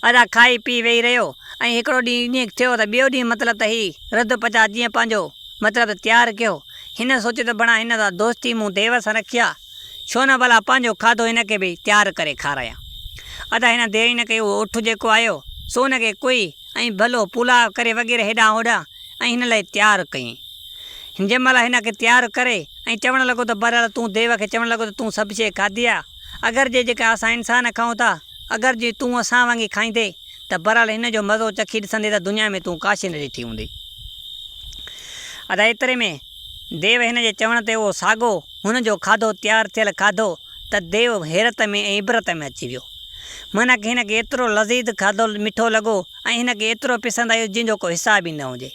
ادا کائي پي ويهي رهيو ۽ هڪڙو ڏينهن ائين ٿيو ته ٻيو ڏينهن مطلب ته هي رڌ پچاء جيئن پنهنجو مطلب ته تيار ڪيو. هن سوچيو ته بڻا هن سان دوستي مون ديو سان رکي آ، ڇو نه ڀلا پنهنجو کاڌو هن کي به تيار ڪري کارايان. ادا هن دير ئي نه ڪئي اهو اٺ جيڪو آيو سو ان کي ڪوئي ۽ ڀلو پولاء ڪري وغيره هيڏانهن هوڏانهن ۽ هن لاء تيار ڪيائين. جنهن مهل هن کي تيار ڪري ۽ چوڻ لڳو ته بهرحال تون ديو کي چوڻ لڳو ته تون سڀ شيء کاڌي آ، اگر جي جيڪا اسان انسان کائون ٿا، اگر جي تون اسان وانگي کائيندي ته بھرحال ھن جو مزو چکي ڏسندي ته دنيا ۾ تون ڪاشي نه ڏٺي ھوندي. ادا ايتري ۾ ديو ھن جي چوڻ تي اھو ساڳو ھن جو کاڌو تيار ٿيل کاڌو ته ديو حيرت ۾ ۽ عبرت ۾ اچي ويو. معنيٰ ڪھ ھن کي ايترو لذيذ کاڌو مٺو لڳو ۽ ھن کي ايترو پسند آيو جنھن جو ڪو حساب ئي نه ھجي.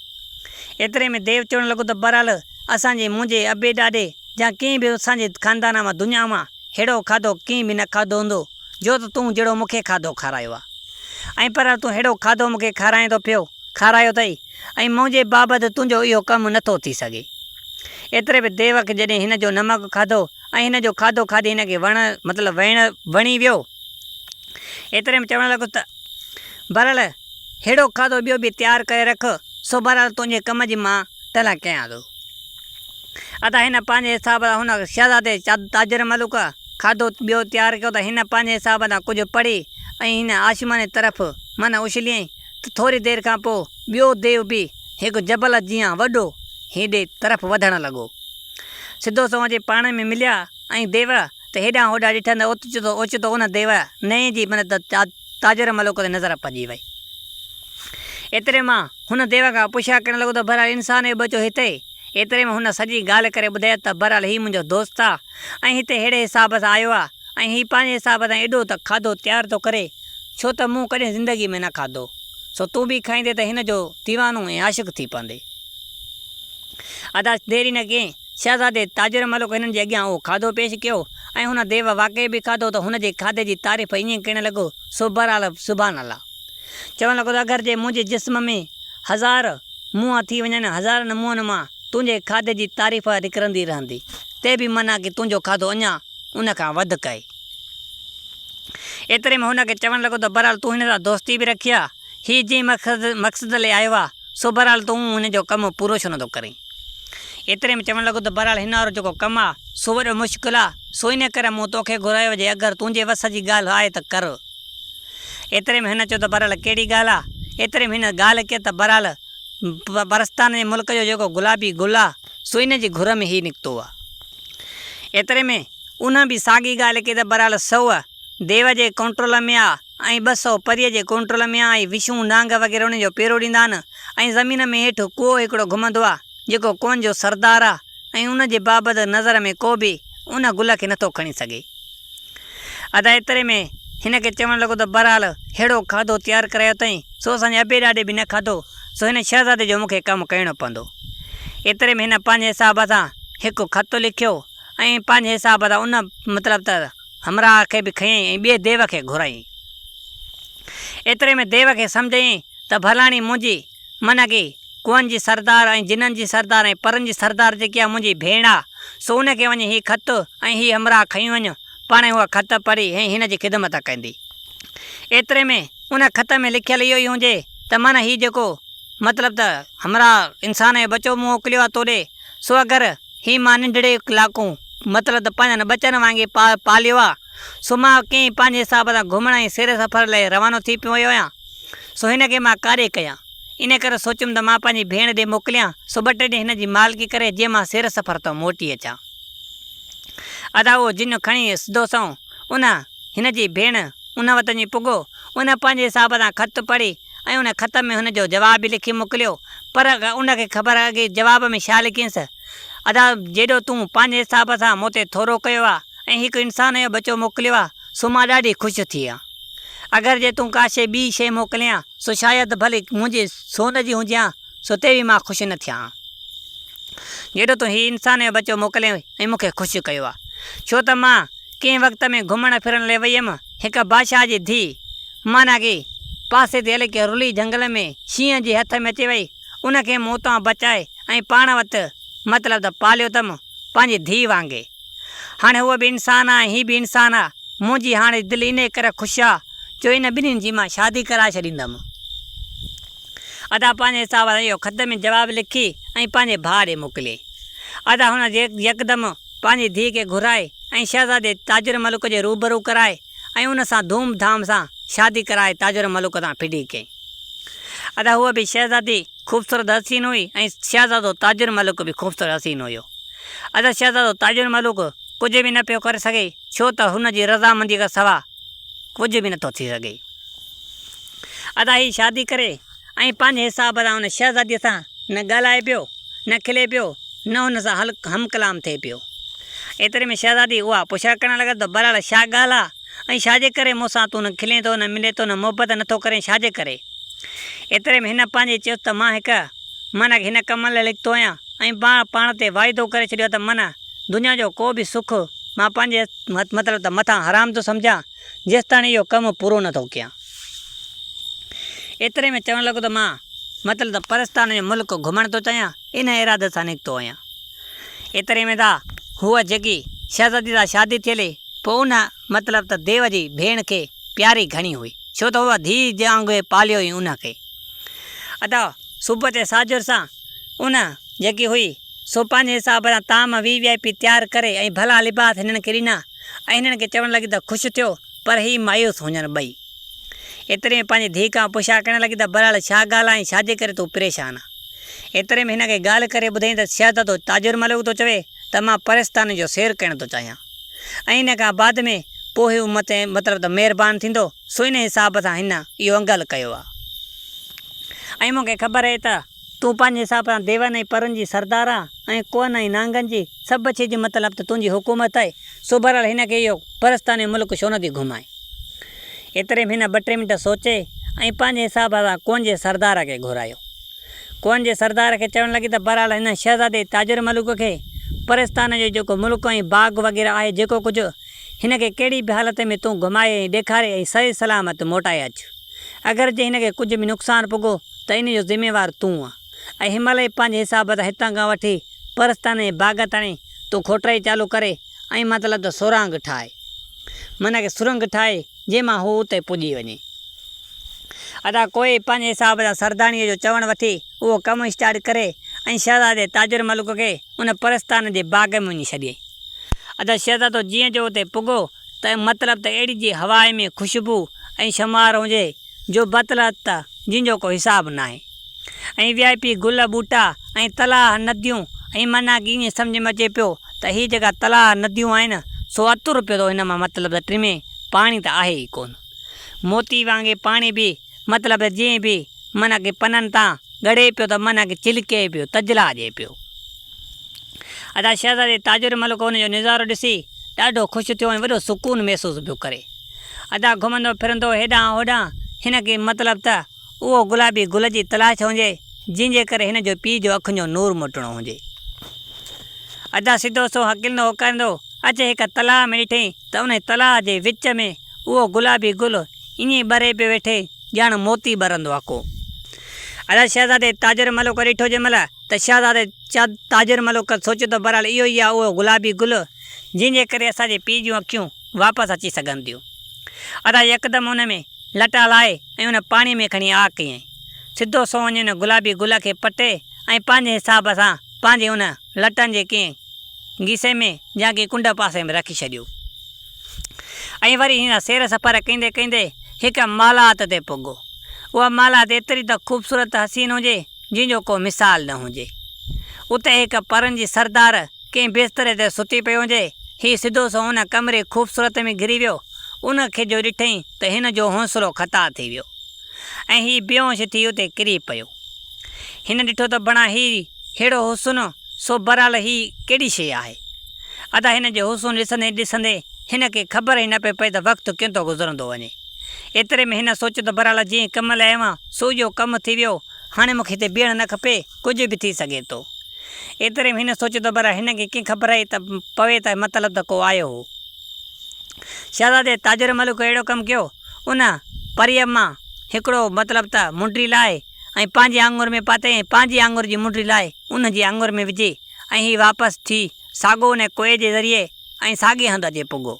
ايتري ۾ ديو چوڻ لڳو ته بھرحال! اسان جي منهنجي ابي ڏاڏي يا ڪنهن به اسان جي خاندان مان دنيا مان ههڙو کاڌو ڪنهن به نه کاڌو هوندو جو ته تون جهڙو مون کي کاڌو کارايو آ ۽ پر تون ههڙو کاڌو مون کي کارائين ٿو پيو کارايو اٿئي ۽ منهنجي بابت تنهنجو اهو ڪم نه ٿو ٿي سگهي ايتري ۾ ديوڪ جڏهن هن جو نمڪ کاڌو ۽ هن جو کاڌو کاڌي هن کي وڻ مطلب ويڻ وڻي ويو ايتري ۾ چوڻ لڳو ته بهرحال ههڙو کاڌو ٻيو به تيار ڪري رک سو بهرحال تنهنجي ڪم جي مان تنهن ڪيان ٿو. ادا هن پنهنجي حساب سان هن شهزادي تاجر ملوڪ کاڌو ٻيو تيار ڪيو ته هن پنهنجي حساب سان ڪجهه پڙهي ۽ هن آشماني طرف منهن اڇليائين ته ٿوري دير کان پوء ٻيو ديو به هڪ جبل جيان وڏو هيڏي طرف وڌڻ لڳو. سڌو سنئون اچي پاڻ ۾ مليا ۽ ديو ته هيڏانهن هوڏانهن ڏٺن ته اوچتو اوچتو ان ديو نئين جي مدد تاجر ملوڪ تي نظر پڄي وئي. ايتري مان هن ديو کان پڇا ڪرڻ لڳو ته بهرحال انسان اهي ٻچو هتي؟ ايتري ۾ هن سڄي ڳالهه ڪري ٻڌائي ته بهرحال هي منهنجو دوست آ ۽ هتي ههڙي حساب سان آيو آ ۽ هي پنهنجي حساب سان ايڏو ته کاڌو تيار ٿو ڪري ڇو ته مون ڪڏهن زندگي ۾ نه کاڌو سو تون به کائيندي ته هن جو ديوانو ۽ عاشق ٿي پوندي. ادا دير ئي نه ڪيئي. شهزادي تاجر ملڪ هنن جي اڳيان اهو کاڌو پيش ڪيو ۽ هن ديو واقعي به کاڌو ته هن جي کاڌي جي تعريف ائين ڪرڻ لڳو سو بهرحال سبحان الله چوڻ لڳو ته اگر جي منهنجي جسم ۾ هزار منهن ٿي وڃن هزارن منهن مان تنهنجي کاڌي جي تعريف نڪرندي رهندي تي به منا ڪي تنهنجو کاڌو اڃا ان کان وڌڪ آهي. ايتري ۾ هو هن کي چوڻ لڳو ته بهرحال تون هن سان دوستي به رکي ها. هي جنهن مقصد لئي آيو آ، سو بهرحال تون هن جو ڪم پورو ڇو نٿو ڪرين؟ ايتري ۾ چوڻ لڳو ته بهرحال هن وارو جيڪو ڪم آ، سو وڏو مشڪل آ، سو انهيء ڪري مون تو کي گهرايو جي اگر تنهنجي وس جي ڳالهه آهي ته ڪر. ايتري ۾ هن چيو ته بهرحال ڪهڙي ڳالهه آ؟ ايتري ۾ هن ڳالهه ڪئي ته بهرحال پرستان جي ملڪ جو جيڪو گلابي گل آ، سو انهيء جي گهر ۾ هي نڪتو آ. ايتري ۾ انهن به ساڳي ڳالهه ڪئي ته بهرحال سوء ديو جي ڪنٽرول ۾ آ، ۽ ٻه سؤ پريء جي ڪنٽرول ۾ آهي، وشون، نانگ وغيره انهن جو پيرو ڏيندا آهن ۽ زمين ۾ هيٺ ڪوهه هڪڙو گهمندو آهي، جيڪو ڪوهن جو سردار آهي ۽ ان جي بابت نظر ۾ ڪو به ان گل کي نٿو کڻي سگهي. ادا ايتري ۾ هن کي چوڻ لڳو ته بهرحال ههڙو کاڌو تيار ڪرايو اٿئين، سو اسان جي ابي ڏاڏي به نه کاڌو، سو هن شهزادي جو مون کي ڪم ڪيڻو پوندو. ايتري ۾ هن پنهنجي حساب سان هڪ خط لکيو ۽ پنهنجي حساب سان ان مطلب ته. همراهه کي به کنيائين ۽ ٻئي ديو کي گهرايائين. ايتري ۾ ديو کي سمجهه ايئي ته ڀلاڻي منهنجي، معنيٰ ڪي ڪوهن جي سردار ۽ جنن جي سردار ۽ پرن جي سردار جيڪي اها منهنجي ڀيڻ آ، سو ان کي وڃي هي خط ۽ هي همراهه کڻي وڃ، پاڻهي هوء خط پڙهي ۽ هن جي خدمت ڪندي. ايتري ۾ ان خط ۾ لکيل اهو ئي هجي ته معنيٰ هي جيڪو مطلب ته همراهه انسان جو ٻچو مون موڪليو آ تو ڏي، سو اگر، هي مان ننڍڙي ڪلاڪون مطلب ته پنهنجن ٻچن وانگي پاليو آ، سو مان ڪئين پنهنجي حساب سان گهمڻ ۽ سير سفر لئه روانو ٿي پيو ويو آهيان، سو هن کي مان ڪاڏي ڪيان، ان ڪري سوچيم ته مان پنهنجي ڀيڻ ڏي موڪليان، سو ٻه ٽي ڏينهن هن جي مالڪي ڪري جي مان سير سفر تان موٽي اچان. ادا اهو جنو کڻي سڌو سنئون ان، هن جي ڀيڻ، ان وٽ وڃي پڳو، ان پنهنجي حساب سان خط پڙهي، ۽ ان خط ۾ هن جو جواب به لکي موڪليو، پر ان کي خبر آهي اڳي جواب ۾ ڇا لکينس، ادا جيڏو تون پنهنجي حساب سان مون تي ٿورو ڪيو آهي ۽ هڪ انسان جو ٻچو موڪليو آهي سو مان ڏاڍي خوش ٿي آهيان. اگر جي تون ڪا شيء ٻي شيء موڪلين ها سو شايد ڀلي منهنجي سون جي هجي ها سو تي به مان خوش نه ٿيان ها جيڏو تون هي انسان جو ٻچو موڪلين ۽ مون کي خوش ڪيو آهي ڇو ته مان ڪنهن وقت ۾ گهمڻ ڦرڻ لئي وئي هيم هڪ بادشاهه جي ڌيء مانا ڪي پاسي تي الڪي رلي جهنگل ۾ شينهن جي هٿ ۾ اچي وئي ان کي موت تان بچائي ۽ پاڻ وت مطلب ته پاليو تم پنهنجي ڌيء وانگي هاڻي هوء به انسان آ ۽ هي به انسان آ منهنجي هاڻي دل انهي ڪري خوش آ جو ان ٻنهين جي مان شادي ڪرائي ڇڏيندم ادا پنهنجي حساب سان اهو خط ۾ جواب لکي ۽ پنهنجي ڀاء ڏي موڪليائين ادا هن يڪدم پنهنجي ڌيء کي گهرائي ۽ شهزادي تاجر ملڪ جي روبرو ڪرائي ۽ ان سان ڌوم ڌام سان شادي ڪرائي تاجر ملڪ سان ڦڊي ڪئي. ادا هوء به شهزادي خوبصورت حسين هئي ۽ شهزادو تاجر ملڪ به خوبصورت حسين هيو. ادا شهزادو تاجر ملڪ ڪجهه به نه پيو ڪري سگهي ڇو ته هن جي رضامنديء کان سوا ڪجهه به نٿو ٿي سگهي. ادا هي شادي ڪري. ۽ پنهنجي حساب سان ان شهزاديء سان نه ڳالهائي پيو، نه کلي پيو، نه هن سان هم ڪلام ٿئي پيو. ايتري ۾ شهزادي اها پڇا ڪرڻ لڳس ته بهرحال ڇا ڳالهه آ ۽ ڇاجي ڪري مون سان تون نه کلين ٿو، نه ملين ٿو، نه محبت نه ٿو ڪرين ڇاجي ڪري؟ ايتري ۾ هن پنهنجي چيس ته مان هڪ من هن ڪم لاء لکتو آهيان ۽ مان پاڻ تي واعدو ڪري ڇڏيو آ ته من دنيا جو ڪو به سک مان پنهنجي مطلب ته مٿان حرام ٿو سمجهان، جيستاڻي اهو ڪم پورو نه ٿو ڪيان. ايتري ۾ چوڻ لڳو ته مان مطلب ته پرستان جو ملڪ گهمڻ ٿو چاهيان، انهيء ارادي سان نڪتو آهيان. ايتري ۾ ته هوء جيڪي شهزاديء سان شادي ٿيل هئي، پوء ان مطلب ته ديو جي ڀيڻ کي پياري گهڻي هئي، ڇو ته هوء ڌيء وانگي پاليو هئي ان کي. ادا صبح تي ساجهر سان ان جيڪي هئي، سو پنهنجي حساب سان طعام وي وي آء پي تيار ڪري ۽ ڀلا لباس هنن کي ڏنا. ۽ هنن کي چوڻ لڳي ته خوش ٿيو پر هي مايوس هونجن ٻئي. ايتري ۾ پنهنجي ڌيء کان پڇا ڪرڻ لڳي ته بهرحال ڇا ڳالهه آهين ڇاجي ڪري تون پريشان آهين. ايتري ۾ هن کي ڳالهه ڪري ٻڌائين ته شهزادو تاجر ملوڪ ٿو چوي ته مان پرستانن جو سير ڪرڻ ٿو چاهيان ۽ ان کان بعد ۾ پوء هو مون تي مطلب ته مهربان ٿيندو سو ان حساب سان هن اهو انگل ڪيو آهي ۽ مون کي خبر آهي ته تون پنهنجي حساب سان ديون ۽ پرن جي سردار آهين ۽ ڪوهن ۽ نانگن جي، سڀ شيء جو مطلب ته تنهنجي حڪومت آهي، سو بهرحال هن کي اهو پرستانه ملڪ ڇو نه ٿي گهمائين؟ ايتري ۾ هن ٻه ٽي منٽ سوچي ۽ پنهنجي حساب سان ڪوهن جي سردار کي گهرايو. ڪوهن جي سردار کي چوڻ لڳي ته بهرحال هن شهزادي تاجر ملوڪ کي پرستانه جو جيڪو ملڪ ۽ باغ وغيره آهي جيڪو ڪجهه هن کي ڪهڙي به حالت ۾ تون گهمائي ۽ ڏيکاري ۽ صحيح سلامت موٽائي اچ. اگر جي هن کي ڪجهه به نقصان پڳو ته ان جو ذميوار تون آن. اي همل اي پنهنجي حساب ته هتان کان وٺي پرستان جي باغ تڻي تون کوٽرائي چالو ڪري ۽ مطلب ته سرانگ ٺاهي. معنيٰ ڪي سرنگ ٺاهي جنهن مان هو اتي پڄي وڃي. ادا ڪوئي پنهنجي حساب سان سرداڻيء جو چوڻ وٺي اهو ڪم اسٽارٽ ڪري ۽ شهزادي تاجر ملڪ کي ان پرستان جي باغ ۾ وڃي ڇڏيائين. ادا شهزادو جيئن جو اتي پڳو ته مطلب ته اهڙي جي هواء ۾ خوشبو ۽ شمار هجي جو بطلت ته جن جو ڪو حساب ناهي ۽ وي آء پي گل ٻوٽا ۽ تلاهه نديون ۽ معنيٰ ڪي ائين سمجهه ۾ اچي پيو ته هي جيڪا تلاهه نديون آهن سو عطر پيو ٿو هن مان مطلب ته ٽمي پاڻي ته آهي ئي ڪونه موتي وانگي پاڻي به مطلب ته جيئن به منهن کي پنن تان ڳڙي پيو ته منهن کي چلڪي پيو، تجلا ڏئي پيو. ادا شهزادي تاج الملڪ ان جو نظارو ڏسي ڏاڍو خوش ٿيو ۽ وڏو سڪون محسوس پيو ڪري. ادا گهمندو ڦرندو هيڏانهن هوڏانهن هن کي مطلب ته اهو گلابي گل جي تلاش هجي جنهن جي ڪري هن جو پيء جو اکين جو نور موٽڻو هجي. ادا سڌو سنئون هڪلندو هوڪاريندو اچي هڪ تلاء ۾ ڏٺئي ته انهي تلاء جي وچ ۾. اهو گلابي گل ائين ٻري پيو ويٺي ڄڻ موتي ٻرندو آ ڪو. ادا شهزادي تاجر ملوڪ ڏٺو جنهن مهل ته شهزادي تاجر ملوڪ سوچيو ته بهرحال اهو ئي آ اهو گلابي گل جنهن جي ڪري اسان جي پيء جون اکيون واپس اچي سگهن ٿيون. ادا يڪدم ان ۾ لٽا لائي ۽ ان پاڻي ۾ کڻي آ ڪيائين. سڌو سنئون وڃي ان گلابي گل کي پٽي ۽ پنهنجي حساب سان پنهنجي ان لٽن جي ڪنهن گيسي ۾ يا ڪنهن ڪنڊ پاسي ۾ رکي ڇڏيو. ائين وري هن سير سفر ڪيندي ڪيندي هڪ مالات تي پڳو. اها مالات ايتري ته خوبصورت ته حسين هجي، جنهن جو ڪو مثال نه هجي. اتي هڪ پرن جي سردار ڪنهن بستري تي ستي پيو هجي. هي سڌو سنئون ان ڪمري خوبصورت ۾ گهري ويو. ان کي جو ڏٺئين ته هن جو حوصلو خطا ٿي ويو ۽ هي بيهوش ٿي اتي ڪري پيو. هن ڏٺو ته بڻا هي ههڙو حسن، سو برحال هي ڪهڙي شيء آهي؟ ادا هن جو حسن ڏسندي ڏسندي هن کي خبر ئي نه پئي پئي ته وقت ڪيئن ٿو گذرندو وڃي. ايتري ۾ هن سوچيو ته برحال جنهن ڪم لاء آيو آهيان سو اهو ڪم ٿي ويو هاڻي مون کي هتي بيهڻ نه کپي ڪجهه به ٿي سگهي ٿو. ايتري ۾ هن سوچيو ته برحال هن کي ڪيئن خبر ته پوي ته مطلب ته ڪو آيو هو. شهزادي تاجر ملڪ اهڙو ڪم ڪيو ان پريء مان هڪڙو مطلب ته منڊي لاهي ۽ پنهنجي آڱر ۾ پاتي ۽ پنهنجي آڱر جي منڊي لائي ان جي آڱر ۾ وجهي ۽ هي واپس ٿي ساڳو ان ڪوئي جي ذريعي ۽ ساڳي هنڌ اچي پڳو.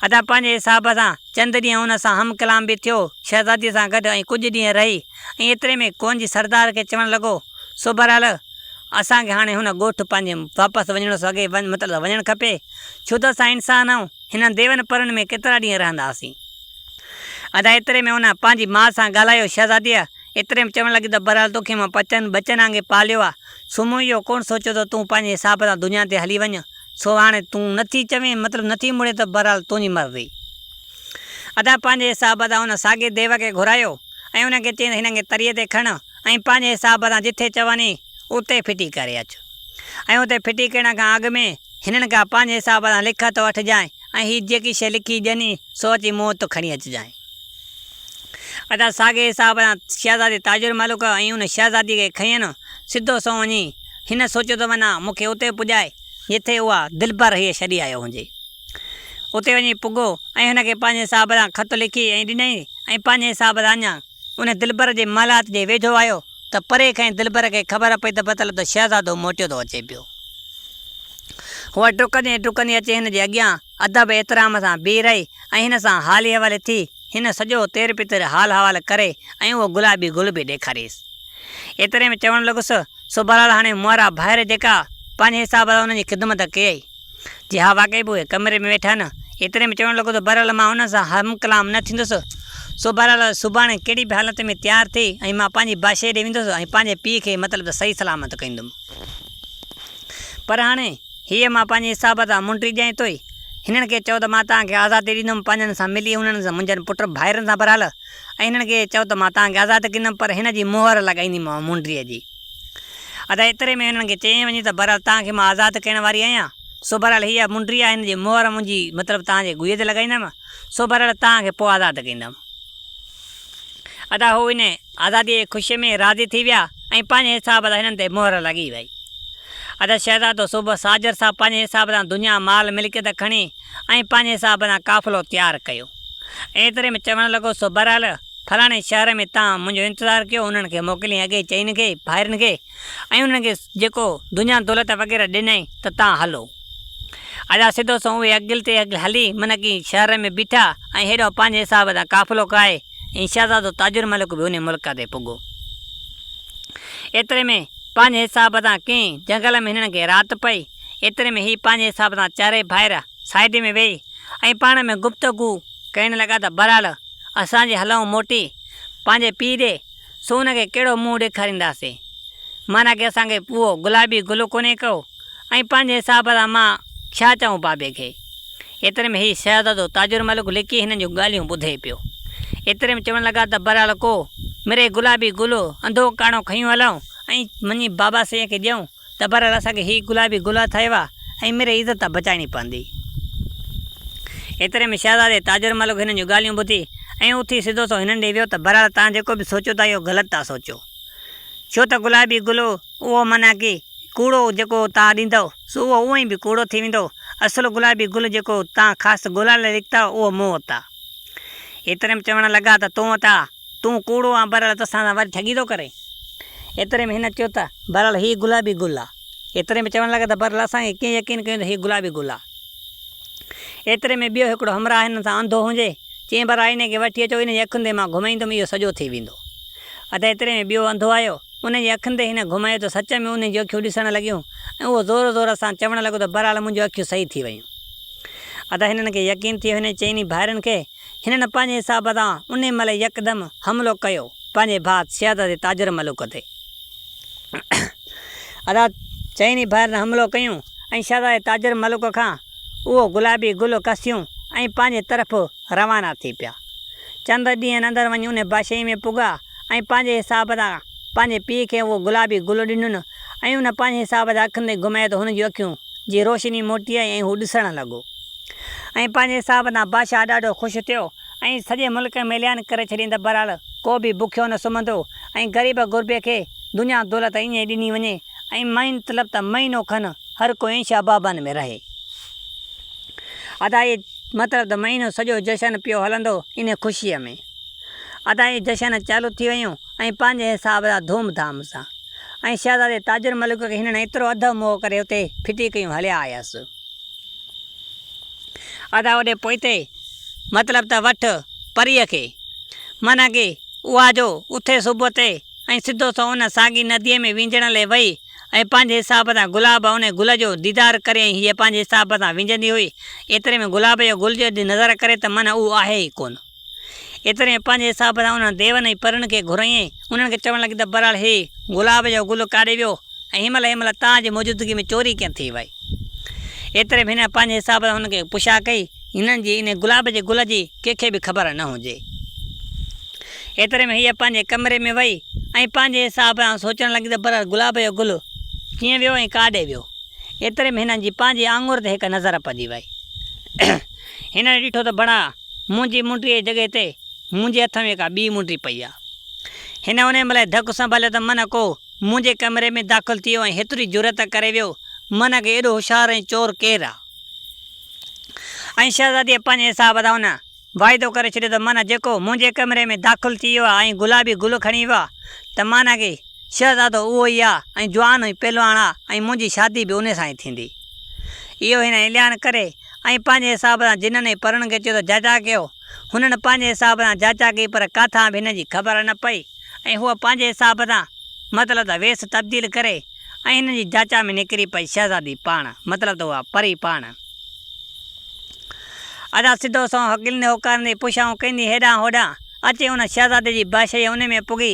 ادا پنهنجي حساب سان چند ڏينهن ان سان هم ڪلام به ٿيو شهزاديء سان گڏ ۽ ڪجهه ڏينهن رهي ۽ ايتري ۾ ڪون جي سردار کي چوڻ لڳو سو بهرحال اسان کي هاڻي هن ڳوٺ پنهنجي واپس وڃڻ سو اڳي مطلب وڃڻ کپي ڇو ته اسان انسان آهيون هنن ديون پرن ۾ ڪيترا ڏينهن رهنداسين. ادا ايتري ۾ ان پنهنجي ماء سان ڳالهايو شهزاديء ايتري ۾ چوڻ لڳي ته بهرحال توکي مان پچن ٻچن آنگي پاليو آ سو مون اهو ڪونه سوچيو ته تون پنهنجي حساب سان دنيا تي هلي وڃ سو هاڻي تون نٿي چوين مطلب نٿي مڙين ته بهرحال تنهنجي مرضي ادا پنهنجي حساب سان ان ساڳي ديو کي گهرايو ۽ ان کي چيائين ته هن کي تريء تي کڻ ۽ پنهنجي حساب سان جتي چوندي اتي ڦٽي ڪري اچ ۽ اتي ڦٽي ڪرڻ کان اڳ ۾ هنن کان پنهنجي حساب سان لکت وٺجانء ۽ هي جيڪي شيء لکي ڏني سو اچي مون وٽ کڻي اچجانء. ادا ساڳئي حساب سان شهزادي تاج الملڪ ۽ ان شهزاديء کي کنئين سڌو سنئون وڃي هن سوچيو ته منا مون کي اتي پڄائي جتي اها دلبر هيء ڇڏي آيو هجي. اتي وڃي پڳو ۽ هن کي پنهنجي حساب سان خط لکي ۽ ڏنئين ۽ پنهنجي حساب سان اڃا ان دلبر جي محلات جي ويجهو آيو ته پري کان ئي دلبر کي خبر پئي ته بتل ته شهزادو موٽيو ٿو اچي پيو. هوء ڊڪندي ڊڪندي اچي هن جي اڳيان ادب احترام سان بيهي رهي ۽ هن سان حالي حوالي ٿي هن سڄو تير پتير حال حوال ڪري ۽ اهو گلابي گل به ڏيکاريس. ايتري ۾ چوڻ لڳس، سو بهرحال هاڻي مهرا ڀائر جيڪا پنهنجي حساب سان هن جي خدمت ڪيئي. جي ها واقعي به اهي ڪمري ۾ ويٺا نه. ايتري ۾ چوڻ لڳو ته بهرحال مان انهن سان هم ڪلام نه ٿيندس. سو بهرحال سڀاڻي ڪهڙي به حالت ۾ تيار ٿي ۽ مان پنهنجي باشي ڏي ويندس ۽ پنهنجي پيء کي مطلب ته صحيح سلامت ڪندم. پر هاڻي هيء مان پنهنجي حساب تان منڊري ڄائين توئي هنن کي چئو ته مان توهان کي آزادي ڏيندم پنهنجن سان ملي انهن سان منهنجن پٽ ڀائرن سان بهرحال ۽ هنن کي چئو ته مان توهان کي آزاد ڪندم پر هن جي مهر لڳائينديمانء منڊريء جي. ادا ايتري ۾ هنن کي چيائين وڃي ته بهرحال توهان کي مان آزاد ڪرڻ واري آهيان، سو بهرحال هيء منڊي آهي هن جي مهر منهنجي مطلب توهان جي گويء تي لڳائيندم، سو بهرحال توهان کي پوء آزاد ڪندم. ادا هو ان آزاديء جي خوشيء ۾ راضي ٿي ويا ۽ پنهنجي حساب سان هنن تي مهر لڳي وئي. ادا شهزادو صبح ساجر صاحب پنهنجي حساب سان دنيا مال ملڪيت کڻي ۽ پنهنجي حساب سان قافلو تيار ڪيو ۽ ايتري ۾ چوڻ لڳو سو بهرحال فلاڻي شهر ۾ تان منهنجو انتظار ڪيو انهن کي موڪلين اڳئي چئين کي ڀائرن کي ۽ انهن کي جيڪو دنيا دولت وغيره ڏنائين ته تان هلو ادا سڌو سنئون اهي اڳل تي اڳل هلي منڪي شهر ۾ بيٺا ۽ هيڏانهن پنهنجي حساب سان قافلو ڪاهي ۽ شهزادو تاجر ملڪ به انهي ملڪ تي پڳو ايتري ۾ پنهنجي حساب سان ڪنهن جنگل ۾ هنن کي رات پئي ايتري ۾ هي پنهنجي حساب سان چارئي ڀائر سائيڊ ۾ ويهي ۽ پاڻ ۾ گفتگو ڪرڻ لڳا ته بهرحال اسان جي هلئون موٽي پنهنجي پيء ڏي، سو ان کي ڪهڙو منهن ڏيکارينداسين؟ معنيٰ ڪي اسان کي اهو گلابي گل ڪونهي ڪئو؟ ۽ پنهنجي حساب سان مان ڇا چئون بابي کي؟ ايتري ۾ هي شهزادو تاج الملڪ لڪي هنن جون ڳالهيون ٻڌي پيو. ايتري ۾ چوڻ لڳا ته برالڪو، مري گلابي گل انڌو ڪاڻو کنيون هلئون ۽ وڃي بابا سيء کي ڏيئون. ته بهرحال اسان کي هي گلابي گل هٿ آيو آهي ۽ ميري عزت ته بچائڻي پوندي. ايتري ۾ شهزادي تاجر ملڪ هنن جون ڳالهيون ٻڌي ۽ اٿي سڌو سو هنن ڏي ويو ته بهرحال توهان جيڪو به سوچيو ٿا اهو غلط ٿا سوچيو. ڇو ته گلابي گل اهو معنيٰ ڪي ڪوڙو جيڪو توهان ڏيندؤ سو اهو اونء ئي به ڪوڙو ٿي ويندو. اصل گلابي گل جيڪو توهان خاص ڳولڻ لاء لکتا اهو مون وٽ آ. ايتري ۾ چوڻ لڳا ته تون وٽ آ. تون ڪوڙو آن بھرحال توسان سان وري ٺڳي ٿو ڪرين. ايتري ۾ ھن چيو ته، بھرحال ھي گلابي گل آ. ايتري ۾ چوڻ لڳا ته، بھرحال اسان کي ڪيئن يقين ڪيون ته ھي گلابي گل آ. ايتري ۾ ٻيو ھڪڙو ھمراھ ھنن سان انڌو ھونجي چين بھرحال ھن کي وٺي اچو انھن جي اکين تي مان گھمائيندم اھو سڄو ٿي ويندو. اتي ايتري ۾ ٻيو انڌو آيو انھن جي اکين تي ھن گھمايو ته سچ ۾ انھن جون اکيون ڏسڻ لڳيون ۽ اھو زور زور سان چوڻ لڳو ته، بھرحال منھنجون اکيون صحيح ٿي ويون. اتي ھنن کي يقين ٿي ويو ھنن چئني ڀائرن کي هنن پنهنجي حساب سان انهي مهل يڪدم حملو ڪيو پنهنجي ڀاء سيادت جي تاجر ملوڪ تي. ادا چئني ڀائرن حملو ڪيون ۽ شهزادي تاجر ملوڪ کان اهو گلابي گل کسيون ۽ پنهنجي طرف روانا ٿي پيا. چند ڏينهن اندر وڃي انهي بادشاهي ۾ پڳا ۽ پنهنجي حساب سان پنهنجي پيء کي اهو گلابي گل ڏنن ۽ ان پنهنجي حساب سان اکين تي گهمايو ته هن جون اکيون جي روشني موٽي آئي ۽ هو ڏسڻ لڳو. ۽ پنهنجي حساب تان بادشاهه ڏاڍو خوش ٿيو ۽ سڄي ملڪ ۾ اعلان ڪري ڇڏيائين ته بهرحال ڪو به بکيو نه سمهندو ۽ غريب غربي کي دنيا دولت ائين ئي ڏني وڃي ۽ مهين طلب ته مهينو کن هر ڪو ائين شابابن ۾ رهي. ادا اهي مطلب ته مهينو سڄو جشن پيو هلندو انهي خوشيء ۾. ادا اهي جشن چالو ٿي ويون ۽ پنهنجي حساب تان ڌوم ڌام سان ۽ شهزادي تاجر ملڪ کي هنن ايترو اڌ موهه ڪري اتي ڦٽي ڪيون هليا آيس. ادا اوڏي پوئتي، مطلب ته وٺ پريء کي. معنيٰ ڪي اها جو اٿي صبح تي ۽ سڌو سو ان ساڳي نديء ۾ وينجڻ لي وئي ۽ پنهنجي حساب سان گلاب انهي گل جو ديدار ڪري ۽ هيء پنهنجي حساب سان وينجهندي هئي. ايتري ۾ گلاب جو گل جي ڏي نظر ڪري ته معنيٰ اهو آهي ئي ڪونه. ايتري ۾ پنهنجي حساب سان انهن ديون ۽ پرين کي گهريائين ۽ انهن کي چوڻ لڳي ته بهرحال هي گلاب جو گل ڪاڏي ويو ۽ هن مهل هن مهل توهان جي موجودگي ۾ چوري ڪيئن ٿي وئي؟ ايتري ۾ هن پنهنجي حساب سان هن کي پڇا ڪئي هنن جي انهي گلاب جي گل جي ڪنهن کي به خبر نه هجي. ايتري ۾ هيء پنهنجي ڪمري ۾ وئي ۽ پنهنجي حساب سان سوچڻ لڳي ته بهرحال گلاب جو گل ڪيئن ويو ۽ ڪاڏي ويو؟ ايتري ۾ هنن جي پنهنجي آڱر تي هڪ نظر پئجي وئي. هنن ڏٺو ته بڙا! منهنجي منڊيء جي جڳهه تي منهنجي هٿ ۾ ڪا ٻي منڊي پئي آ. هن انهيء مهل ئي ڌڪ سنڀاليو ته منهن ڪو منهنجي ڪمري ۾ داخل ٿيو ۽ هيتري جرئت ڪري ويو منهن کي ايڏو هوشيار ۽ چور ڪير آ؟ ۽ شهزاديء پنهنجي حساب سان ان واعدو ڪري ڇڏيو ته منهن جيڪو منهنجي ڪمري ۾ داخل ٿي ويو آ ۽ گلابي گل کڻي ويو آ ته منهن کي شهزادو اهو ئي آ ۽ جوان ۽ پهلواڻ آ ۽ منهنجي شادي به انهيء سان ئي ٿيندي. اهو هن اعلان ڪري ۽ پنهنجي حساب سان جنن هي پرڻ کي چيو ته جاچا ڪيو. هنن پنهنجي حساب سان جاچا ڪئي پر ڪاٿان به هن جي خبر نه پئي ۽ هوء پنهنجي حساب سان مطلب ته ويس تبديل ڪري ۽ هنن جي جاچا ۾ نڪري پئي شهزادي پاڻ مطلب ته اها پري پاڻ. ادا سڌو سنئون هڪلندي هوڪارندي پڇائون ڪندي هيڏانهن هوڏانهن اچي ان شهزادي جي باشي جي انهي ۾ پڳي.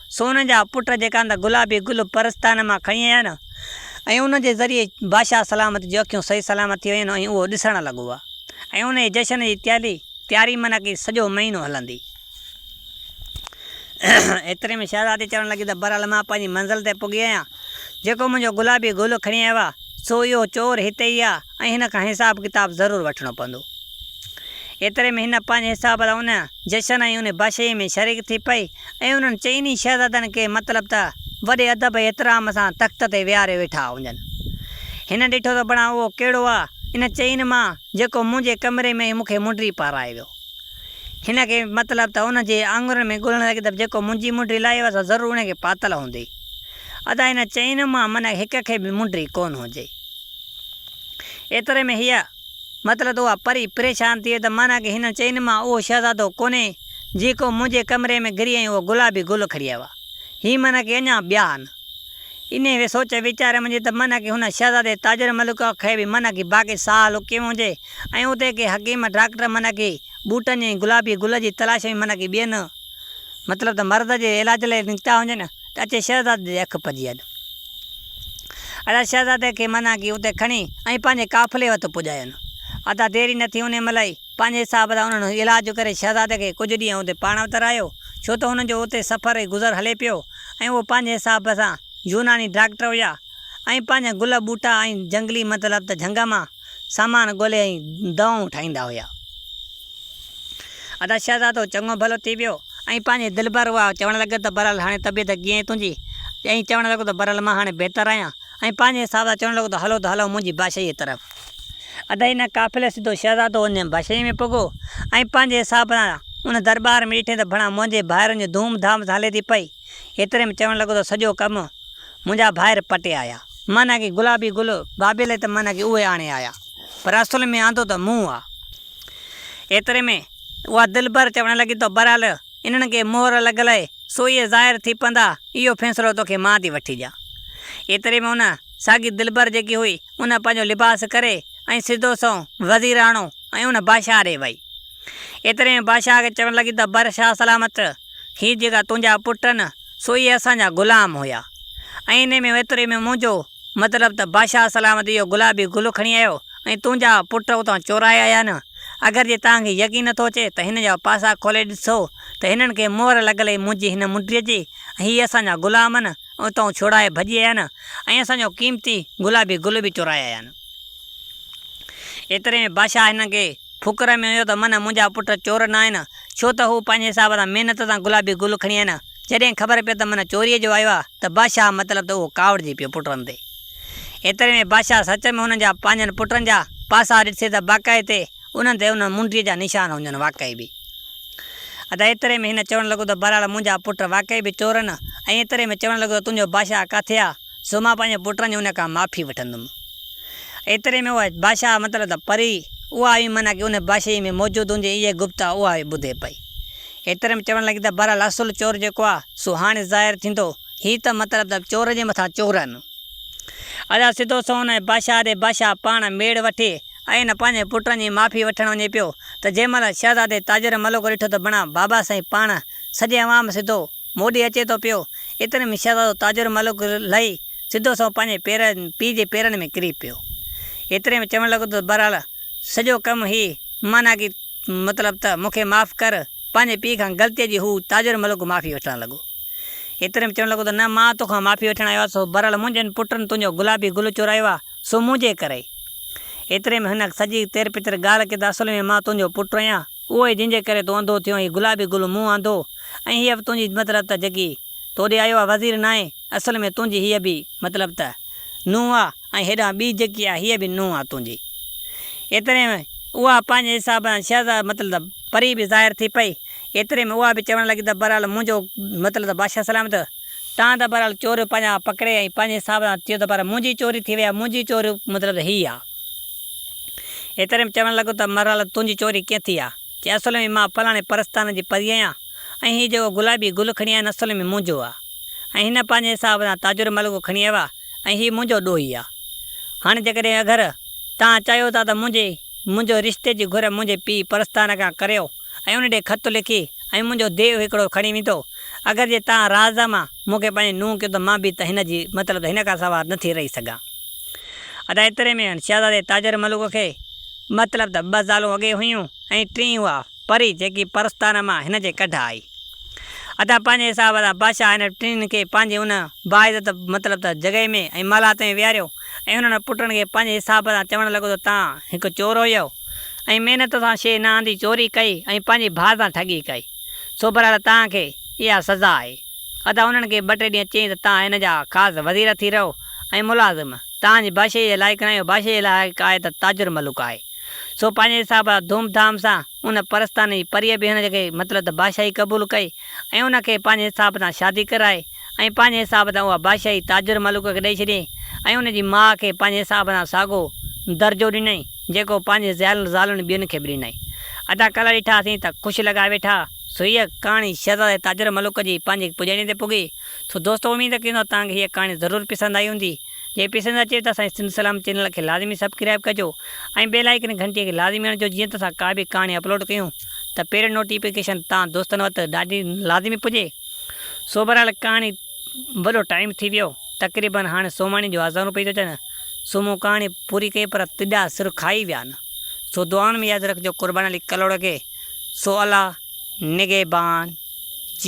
سون جا پٽ جيڪا ته گلابي گل پرستان مان کڻي آيا نه ۽ ان جي ذريعي بادشاهه سلامت جون اکيون صحيح سلامت ٿي ويون ۽ اهو ڏسڻ لڳو ها ۽ ان جي جشن جي تيالي تياري معنيٰ ڪي سڄو مهينو هلندي. ايتري ۾ شهزادي چوڻ لڳي ته بهرحال مان پنهنجي منزل تي پڳي آهيان. جيڪو منهنجو گلابي گل کڻي آيو آهي سو اهو چور هتي ئي آهي ۽ هن کان حساب ڪتاب ضرور وٺڻو پوندو. ايتري ۾ هن پنهنجي حساب سان ان جشن ۽ ان باشيء ۾ شريڪ ٿي پئي. ۽ انهن چئني شهزادن کي مطلب ته وڏي ادب ۽ احترام سان تخت تي ويهاري ويٺا هجن. هن ڏٺو ته بڻا اهو ڪهڙو آ، ان چئني مان، جيڪو منهنجي ڪمري ۾ مون کي منڊري پارائي ويو. هن کي مطلب ته ان جي آڱرين ۾ ڳولڻ لڳي ته جيڪو منهنجي منڊري لاهي ويو آ، سو ضرور ان کي پاتل هوندي. ادا هن چئني مان من هڪ کي به منڊري ڪونه هجي. ايتري ۾ هيء. مطلب ته اها پري پريشان ٿئي ته معنيٰ ڪه هنن چئي نه مان اهو شهزادو ڪونهي جيڪو منهنجي ڪمري ۾ گري ۽ اهو گلابي گل کڻي آيو آهي. هي معنيٰ ڪه اڃا ٻيا آهن. انهيء وي سوچ ويچار منجهه ته معنيٰ ڪه هن شهزادي تاجر ملڪ کي به معنيٰ ڪه باقي ساهه لڪي ويو هجي ۽ اتي ڪي حڪيم ڊاڪٽر معنيٰ ڪه ٻوٽن جي ۽ گلابي گل جي تلاش ۾ معنيٰ ڪه ٻين مطلب ته مرض جي علاج لاء نڪتا هجن. ته اچي شهزادي جي اک پجي هل. ادا شهزادي کي منع ڪئي اتي کڻي ۽ پنهنجي قافلي وت پڄاين. ادا ديري نه ٿي انهي مهل ئي پنهنجي حساب سان انهن علاج ڪري شهزادي کي ڪجهه ڏينهن اتي پاڻ وٽ رهايو ڇو ته هنن جو اتي سفر ۽ گذر هلي پيو ۽ اهي پنهنجي حساب سان يوناني ڊاڪٽر هيا ۽ پنهنجا گل ٻوٽا ۽ جهنگلي مطلب ته جهنگ مان سامان ڳولي ۽ دوائون ٺاهيندا هيا. ادا شهزادو چڱو ڀلو ٿي ويو ۽ پنهنجي دلبر اها چوڻ لڳي ته برحال هاڻي طبيعت ڪيئن تنهنجي؟ ائين چوڻ لڳو ته برحال مان هاڻي بهتر آهيان ۽ پنهنجي حساب سان چوڻ لڳو ته هلو ته هلئون منهنجي باشيء طرف. ادا ان قافلي سڌو شهزادو ان باشيء ۾ پڳو ۽ پنهنجي حساب سان ان درٻار ۾ ڏٺئين ته ڀڻا منهنجي ڀائرن جي ڌوم ڌام سان هلي ٿي پئي. ايتري ۾ چوڻ لڳو ته سڄو ڪم منهنجا ڀائر پٽي آيا. معنيٰ ڪي گلابي گل بابي لئي ته معنيٰ ڪي اهي آڻي آيا، پر اصل ۾ آندو ته مون آ. ايتري ۾ اها دلبر چوڻ لڳي تو برحال انهن کي مهر لڳل اهي، سو اهي ظاهر ٿي پوندا، اهو فيصلو توکي مان ٿي وٺي ڏيان. ايتري ۾ ان ساڳي دلبر جيڪي هئي، ان پنهنجو لباس ڪري ۽ سڌو سنئون وزيراڻو ۽ ان بادشاهه ڏي وئي. ايتري ۾ بادشاهه کي چوڻ لڳي ته بر شاهه سلامت، هي جيڪا تنهنجا پٽ آهن، سو اهي اسان جا غلام هيا ۽ انهي ۾ ايتري ۾ منهنجو مطلب ته بادشاهه سلامت اهو گلابي گل کڻي آيو ۽ تنهنجا پٽ اتان چورائي آيا نه اگر جي توهان کي يقين نه ٿو اچي ته هن جا پاسا کولي ڏسو ته هنن کي مهر لڳل هي منهنجي هن منڊيء جي ۽ هي اسان جا غلام آهن ۽ اتان ڇوڙائي ڀڄي آيا نه ۽ اسان جو قيمتي گلابي گل به چورائي آيا نه ايتري ۾ بادشاهه هنن کي فڪر ۾ هيو ته من منهنجا پٽ چور نه آهن، ڇو ته هو پنهنجي حساب سان محنت سان گلابي گل کڻي آيا آهن. جڏهن خبر پيس ته من چوريء جو آيو آهي ته بادشاهه مطلب ته اهو ڪاوڙجي پيو پٽن تي. ايتري ۾ بادشاهه سچ ۾ هنن جا پنهنجن پٽن جا پاسا ڏٺسي ته باقائي تي انهن تي انهن منڊيء جا نشان هجن واقعي به ادا ايتري ۾ هن چوڻ لڳو ته بهرحال منهنجا پٽ واقعي به چور آهن ۽ ايتري ۾ چوڻ لڳو ته تنهنجو بادشاهه ڪاٿي آهي؟ سو مان پنهنجي پٽن جي ان کان معافي وٺندم. ايتري ۾ اها بادشاهه مطلب ته پري، اها هئي معنيٰ ڪي ان بادشاهي ۾ موجود هوندي اهي گفتا اها هئي ٻڌي پئي. ايتري ۾ چوڻ لڳي ته بهرحال اصل چور جيڪو آ، سو هاڻي ظاهر ٿيندو. هي ته مطلب ته چور جي مٿان چورن. ادا سڌو سنئون ان بادشاهه ڏي بادشاهه پاڻ ميڙ وٺي ۽ پنهنجي پٽن جي معافي وٺڻ وڃي پيو ته جنهن مهل شهزادي تاجر ملوڪ ڏٺو ته بڻا بابا سائين پاڻ سڄي عوام سڌو موڏي اچي ٿو پيو. ايتري ۾ شهزادو تاج الملوڪ لهي سڌو سنئون پنهنجي پير پيء جي پيرن ۾ ڪري پيو. ايتري ۾ چوڻ لڳو ته بهرحال سڄو ڪم هي معنيٰ ڪي مطلب ته مون کي معاف ڪر. پنهنجي پيء کان غلطيء جي هو تاج الملوڪ معافي وٺڻ لڳو. ايتري ۾ چوڻ لڳو ته نه مان تو کان معافي وٺڻ آيو آهيان بهرحال منهنجن پٽن تنهنجو گلابي گل چورايو آهي سو منهنجي ڪري. ايتري ۾ هن سڄي تير پتر ڳالهه ڪئي ته اصل ۾ مان تنهنجو پٽ آهيان. اهوئي جنهن جي ڪري تون انڌو ٿيو ۽ هي گلابي گل مون آندو ۽ هيء به تنهنجي مطلب ته جيڪي تو ڏي آيو آ وزير ناهي اصل ۾ تنهنجي هيء به مطلب ته نونهن آ ۽ هيڏانهن ٻي جيڪي آ هيء به نونهن آ تنهنجي ايتري ۾ اها پنهنجي حساب سان شهزاد مطلب ته پري به ظاهر ٿي پئي ايتري ۾ اها به چوڻ لڳي ته بهرحال منهنجو مطلب ته بادشاهه سلامت تان ته بهرحال چور پنهنجا پڪڙي ۽ پنهنجي حساب سان ٿيو ته پر منهنجي چوري ٿي وئي آ منهنجي چوري مطلب ته هيء آ. ايتري ۾ چوڻ لڳو ته مرحل تنهنجي چوري ڪئين ٿي آ چي اصل ۾ مان فلاڻي پرستان جي پريء آهيان ۽ هي جيڪو گلابي گل کڻي آيا آهن اصل ۾ منهنجو آ ۽ هن پنهنجي حساب سان تاجر ملڳو کڻي آيو آ ۽ هي منهنجو ڏوهي آ هاڻي جيڪڏهن اگر توهان چاهيو ٿا ته منهنجي منهنجو رشتي جي گهر منهنجي پيء پرستان کان ڪريو ۽ ان ڏي خط لکي ۽ منهنجو ديو هڪڙو کڻي ويندو. اگر جي تان راز مان مون کي پنهنجي نونهن ڪيو ته مان به ته هن جي مطلب ته هن کان سوا نه ٿي رهي سگهان. ادا ايتري ۾ هن شهزادي تاجر ملوڪ کي مطلب ته ٻه زالون اڳي هيون ۽ ٽين اها پري جيڪي پرستان مان هن جي ڪڍ آئي. ادا پنهنجي حساب سان بادشاهه هن ٽنهين کي پنهنجي ان باعزت مطلب ته جڳهي ۾ ۽ محلات ۾ ويهاريو ۽ انهن پٽن کي پنهنجي حساب سان چوڻ لڳو ته تان هڪ چور هيو. ۽ محنت سان شيء نه آندي چوري ڪئي ۽ پنهنجي ڀاء سان ٺڳي ڪئي سو برحال توهان کي اها سزا آهي. ادا انهن کي ٻه ٽي ڏينهن چيائين ته توهان هن جا خاص وزير ٿي رهو ۽ ملازم توهان جي بادشاهي جي لائق ناهي اهو بادشاهي جي لائق آهي ته تاجر ملوڪ آهي سو پنهنجي حساب سان ڌوم ڌام سان ان پرستان جي پريء به هن کي مطلب ته بادشاهي قبول ڪئي ۽ ان کي پنهنجي حساب سان شادي ڪرائي ۽ پنهنجي حساب سان اها بادشاهي تاجر ملوڪ کي ڏئي ڇڏيئي ۽ ان جي ماء کي پنهنجي حساب سان ساڳو درجو ڏنئي جيڪو پنهنجي زيل زالن ٻين کي به ڏنئي. ادا ڪلهه ڏٺاسين ته خوش لڳا ويٺا سو هيء ڪهاڻي شهزادي تاجر ملوڪ جي پنهنجي پڄاڻي تي پڳي سو دوستو اميد ڪيون ٿا توهان کي هيء ڪهاڻي ضرور پسند آئي هوندي جي پسند اچي ته اسانجي سنڌ سلام چينل کي لازمي سبڪرائب ڪجو ۽ بيل آئيڪن گهنٽي کي لازمي هڻجو جيئن ته اسان ڪا به ڪهاڻي اپلوڊ ڪيون ته پهرين نوٽيفڪيشن تان دوستن وٽ ڏاڍي لازمي پڄي. سو بهرحال ڪهاڻي وڏو ٽائيم ٿي ويو. تقريبن هاڻي سوماڻي جون آذانون پئي ٿيون اچن سو مون ڪهاڻي پوري ڪئي پر تڏا سر کائي ويا آهن. سو دعائن ۾ ياد رکجو قربان علي ڪلهوڙو کي. سو الله نگهبان جي.